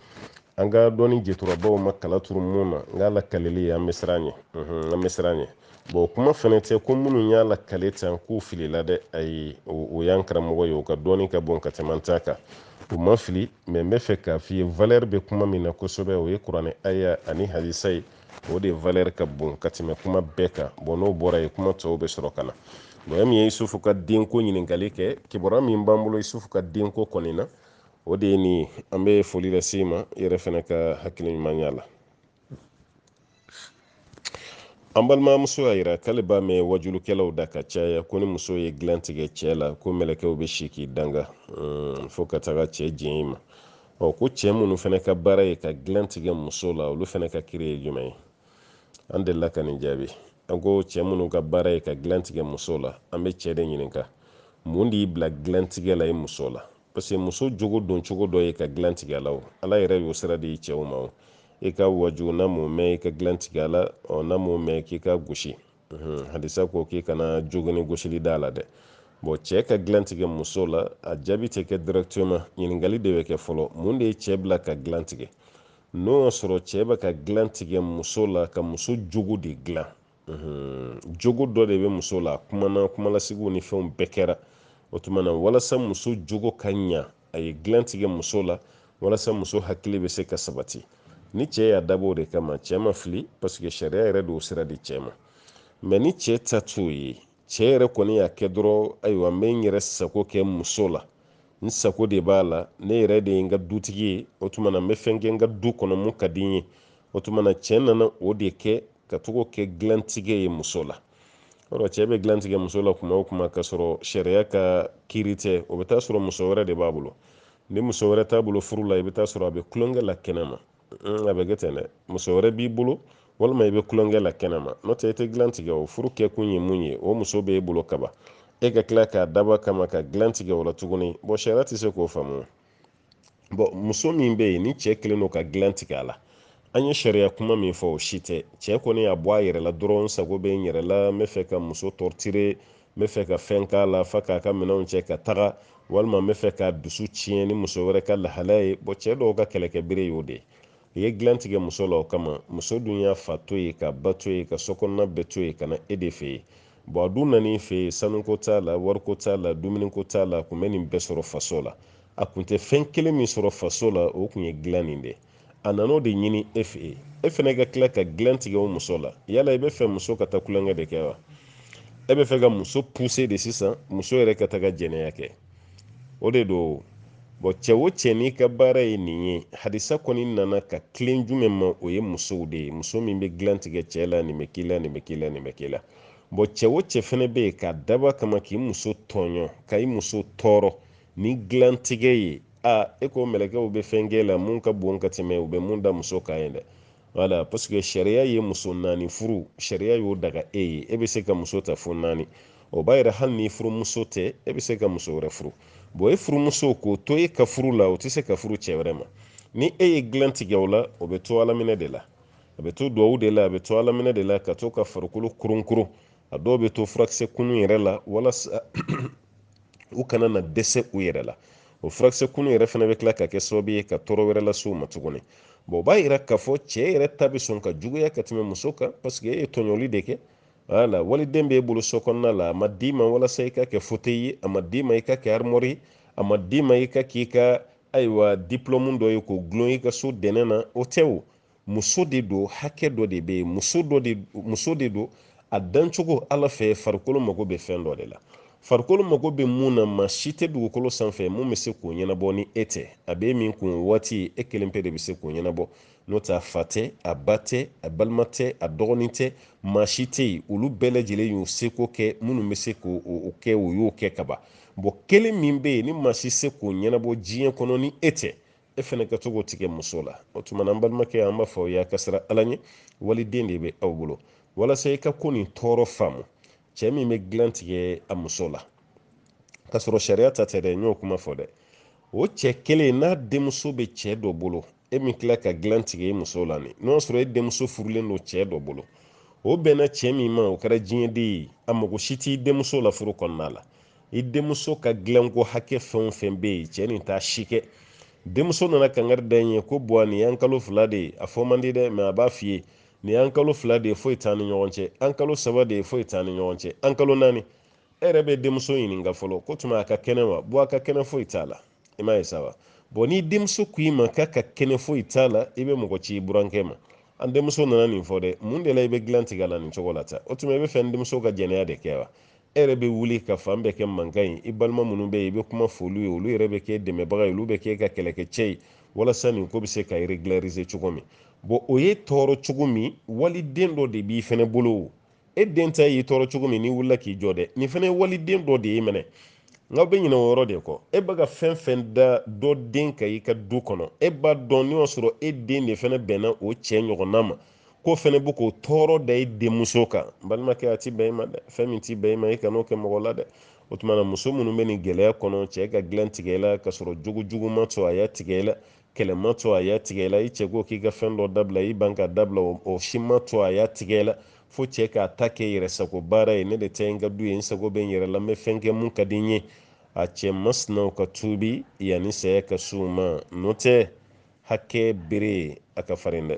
an ka dɔnni jɛturabaw ma kala turu mun na n k'a lakaleli an bɛ siran ɲɛ an bɛ siran ɲɛ bɔn kuma fɛnɛ tɛ ko minnu y'a lakale tan k'u filila dɛ ayi o y'an karamɔgɔ ye o ka dɔnni ka bon ka tɛmɛ an ta kan u ma fili mɛ n b'a fɛ k'a f'i ye valɛri bɛ kuma min na kosɛbɛ o ye kuranɛ aya ani hadisa ye o de valɛri ka bon ka tɛmɛ kuma bɛɛ kan bɔn n'o bɔra yen kuma tɔw bɛ sɔrɔ ka na mɔgɔ min ye isufu ka denko ɲininkali kɛ kibaruya min b'an bolo isufu ka denko kɔni na o de ye nin ye an bɛ foli lase i ma i yɛrɛ fɛnɛ ka hakiliɲumanya la an balimamuso y'a yira k'ale b'a mɛn wajulukɛlaw da ka caya ko ni muso ye dilan tigɛ cɛ la ko mɛlɛkɛw bɛ si k'i danga mm, fo ka taga cɛ jɛn i ma ɔ ko cɛ minnu fɛnɛ ka baara ye ka dilan tigɛ muso la olu fɛnɛ ka kiri ye jumɛn ye an delila ka nin jaabi an ko cɛ minnu ka baara ye ka dilan tigɛ muso la an bɛ cɛ de ɲininka mun de y'i bila dilan tigɛ la i muso la parce que muso jogo don cogo dɔ ye ka dilan tigɛ la o ala yɛrɛ y'o sira di cɛw ma o i ka waju n'a m'o mɛn i ka dilan tigɛ la ɔ n'a m'o mɛn k'i ka gosi hadisa ko k'i kana jogini gosili d'a la dɛ bɔn cɛɛ ka dilan tigɛ muso la a jaabi tɛ kɛ directement ɲininkali de bɛ kɛ fɔlɔ mun de ye cɛɛ bila ka dilan tigɛ n'o y'a sɔrɔ cɛɛ bɛ ka dilan tigɛ muso la ka muso jogo de dilan jogo dɔ de bɛ muso la kumana kumalasigiw ni fɛnw bɛɛ kɛra o tuma na walasa muso jogo ka ɲa a ye dilan tigɛ muso la walasa muso hakili bɛ se ka sabati ni cɛ y'a dabɔ o de kama cɛ ma fili parce que sariya yɛrɛ de y'o sira di cɛ ma mais ni cɛ ta t'o ye cɛ yɛrɛ kɔni y'a kɛ dɔrɔn ayiwa n bɛ n yɛrɛ sago kɛ muso la n sago de b'a la ne yɛrɛ de ye n ka dutigi ye o tuma na n bɛ fɛn kɛ n ka du kɔnɔ mun ka di n ye o tuma na cɛ nana o de kɛ ka to k'o kɛ dilantigɛ ye muso la yɔrɔ cɛ bɛ dilan tigɛ muso la kuma o kuma k'a sɔrɔ sariya ka kiiri tɛ o bɛ taa sɔrɔ muso wɛrɛ de b'a bolo ni muso wɛrɛ t'a bolo furu la i bɛ taa sɔrɔ a bɛ kulonkɛ la kɛnɛma a bɛ kɛ ten dɛ muso wɛrɛ b'i bolo walima i bɛ kulonkɛ la kɛnɛma n'o tɛ i tɛ dilan tigɛ o furu kɛkun ye mun ye o muso bɛ e bolo kaban e ka tila k'a dab'a kama ka dilan tigɛ o la tuguni bɔn sariya tɛ se k'o faamu bɔn muso min bɛ yen ni cɛ kelen don ka dilan tigɛ a la an ye sariya kuma min fɔ o si tɛ cɛ kɔni y'a bɔ a yɛrɛ la dɔrɔn sago bɛ n yɛrɛ la n bɛ fɛ ka muso torturer n bɛ fɛ ka fɛn k'a la f'a k'a ka minɛnw cɛ ka taga walima n bɛ fɛ k'a dusu tiɲɛ ni muso wɛrɛ ka lahalaya ye bɔn cɛ dɔw ka kɛlɛkɛbere y'o de ye i ye dilan tigɛ muso la o kama muso dun y'a fa to yen k'a ba to yen ka sokɔnɔna bɛɛ to yen ka na e de fɛ yen bɔn a dun nan'i fɛ yen sanuko t'a la wariko t'a la dumuniko t'a la a kun bɛ nin bɛɛ sɔrɔ faso la a kun tɛ fɛn kelen min sɔrɔ faso la o kun ye dilan nin de a nan'o de ɲini e fɛ yen e fana ka tila ka dilan tigɛ o muso la yala i bɛ fɛ muso ka taa kulonkɛ de kɛ wa e bɛ fɛ ka muso pousser de sisan muso yɛrɛ ka taga jɛnɛya kɛ o de don bɔn cɛ o cɛ n'i ka baara ye nin ye hadisa kɔni nana ka tilen jumɛn ma o ye musow de ye muso min bɛ dilan tigɛ cɛ la nin bɛ k'i la nin bɛ k'i la nin bɛ k'i la bɔn cɛ o cɛ fana bɛ yen k'a dab'a kama k'i muso tɔɲɔ ka i muso tɔɔrɔ ni dilan tigɛ ye a e ko mɛlɛkɛw bɛ fɛn k'e la mun ka bon ka tɛmɛ u bɛ mun da muso kan ye dɛ voilà parce que sariya ye muso naani furu sariya y'o daga e ye e bɛ se ka muso ta fo naani o b'a yira hali ni furumuso tɛ e bɛ se ka muso wɛrɛ furu bɔn e furumuso k'o to e ka furu la o tɛ se ka furu cɛ wɛrɛ ma ni e ye dilan tigɛ o la o bɛ to alaminɛ de la a bɛ to duwawu de la a bɛ to alaminɛ de la ka to ka farikolo koronkoron a dɔw bɛ to furakisɛ kunun yɛrɛ la walasa u kana na dɛsɛ u yɛrɛ la o furakisɛ kunun yɛrɛ fana bɛ tila ka kɛ sababu ye ka tɔɔrɔ wɛrɛ lase u ma tuguni bɔn o b'a yira k'a fɔ cɛ yɛrɛ ta bɛ sɔn ka juguya ka tɛmɛ muso kan parce que e ye tɔɲɔli de kɛ wala waliden b'e bolo so kɔnɔna la a ma d'i ma walasa i ka kɛ fauteuil ye a ma d'i ma i ka kɛ armoire ye a ma d'i ma i ka k'i ka ayiwa diplôme dɔ ye k'o gulon i ka so dɛnɛn na o tɛ o muso de don hakɛ dɔ de bɛ yen muso de don a dancogo ala fɛ farikolo mago bɛ fɛn dɔ de la farikolo mago bɛ mun na maa si tɛ dugukolo sanfɛ mun bɛ se k'o ɲɛnabɔ ni e tɛ a bɛ min kun waati e kelen pe de bɛ se k'o ɲɛnabɔ n'o tɛ a fa tɛ a ba tɛ a balima tɛ a dɔgɔnin tɛ maa si tɛ yen olu bɛɛ lajɛlen y'u seko kɛ minnu bɛ se k'o kɛ o y'o kɛ ka ban bɔn kelen min bɛ yen ni maa si se k'o ɲɛnabɔ diɲɛ kɔnɔ ni e tɛ e fɛnɛ ka to k'o tigɛ muso la o tuma na an balimakɛ an b'a fɔ aw ye a ka siran ala ɲɛ waliden de bɛ aw bolo walasa i ka ko nin tɔɔrɔ faamu cɛ min bɛ dilan tigɛ a muso la k'a sɔrɔ sariya ta tɛ dɛ n y'o kuma fɔ dɛ o cɛ kelen n'a denmuso bɛ cɛ dɔ bolo e min tila ka dilan tigɛ e muso la nin n'o y'a sɔrɔ e denmuso furulen don cɛ dɔ bolo o bɛnna cɛ min ma o kɛra diɲɛden ye a mago si t'i denmuso la furu kɔnɔna la i denmuso ka dilanko hakɛ fɛn o fɛn bɛ yen cɛ nin t'a si kɛ denmuso nana kangari da i ye ko buwa nin y'an kalo fila de ye a fɔ man di dɛ mɛ a b'a f'i ye nin y'an kalo fila de ye foyi t'an ni ɲɔgɔn cɛ an kalo saba de ye foyi t'an ni ɲɔgɔn cɛ an kalo naani e yɛrɛ bɛ denmuso ɲininka fɔlɔ k'o tuma a ka kɛnɛ wa buwa a ka kɛnɛ foyi t'a la i m'a ye sa wa bɔn ni denmuso ko i ma k'a ka kɛnɛ foyi t'a la i bɛ mɔgɔ ci i burankɛ ma an denmuso nana nin fɔ dɛ mun de la i bɛ dilan tigɛ a la nin cogo la tan o tuma i b'a fɛ n denmuso ka jɛnɛya de kɛ wa e yɛrɛ bɛ wuli ka fan bɛɛ kɛ mankan ye i balima minnu bɛ yen i bɛ kuma f'olu ye olu yɛrɛ bɛ kɛ dɛmɛbaga ye olu bɛ kɛ i ka kɛlɛkɛcɛ ye walasa nin ko bɛ se ka régulariser cogo min bɔn o y'e tɔɔrɔ cogo min waliden dɔ de b'i fɛnɛ bolo e den ta y'i tɔɔrɔ cogo min n'i wulila k'i jɔ dɛ nin fɛnɛ ye waliden dɔ de ye minɛ n'aw bɛ ɲinɛ o yɔrɔ de kɔ e bɛ ka fɛn fɛn da dɔ den kan i ka du kɔnɔ e b'a dɔn n'o y'a sɔrɔ e den de fɛnɛ bɛnna o cɛ ɲɔgɔnna ma k'o fɛnɛ bɛ k'o tɔɔrɔ da i denmuso kan balimakɛ a ti bɛn i ma dɛ fɛn min ti bɛn i ma i kan'o kɛ mɔgɔ la dɛ o tuma na muso minnu bɛ nin gɛlɛya kɔnɔ cɛ ka dilan tigɛ i la ka sɔrɔ jogo jugu ma to a y'a tigɛ i la kɛlɛ ma to a y'a tigɛ i la i cɛ ko k'i ka fɛn dɔ dabila i ban k'a dabila o si ma to a y'a tigɛ i la fo cɛ k'a ta kɛ yɛrɛ sago baara ye ne de tɛ n ka du ye n sago bɛ n yɛrɛ la n bɛ fɛn kɛ mun ka di n ye a cɛ masinaw ka tuubi yanni saya ka se u ma n'o tɛ hakɛ bere a ka farin dɛ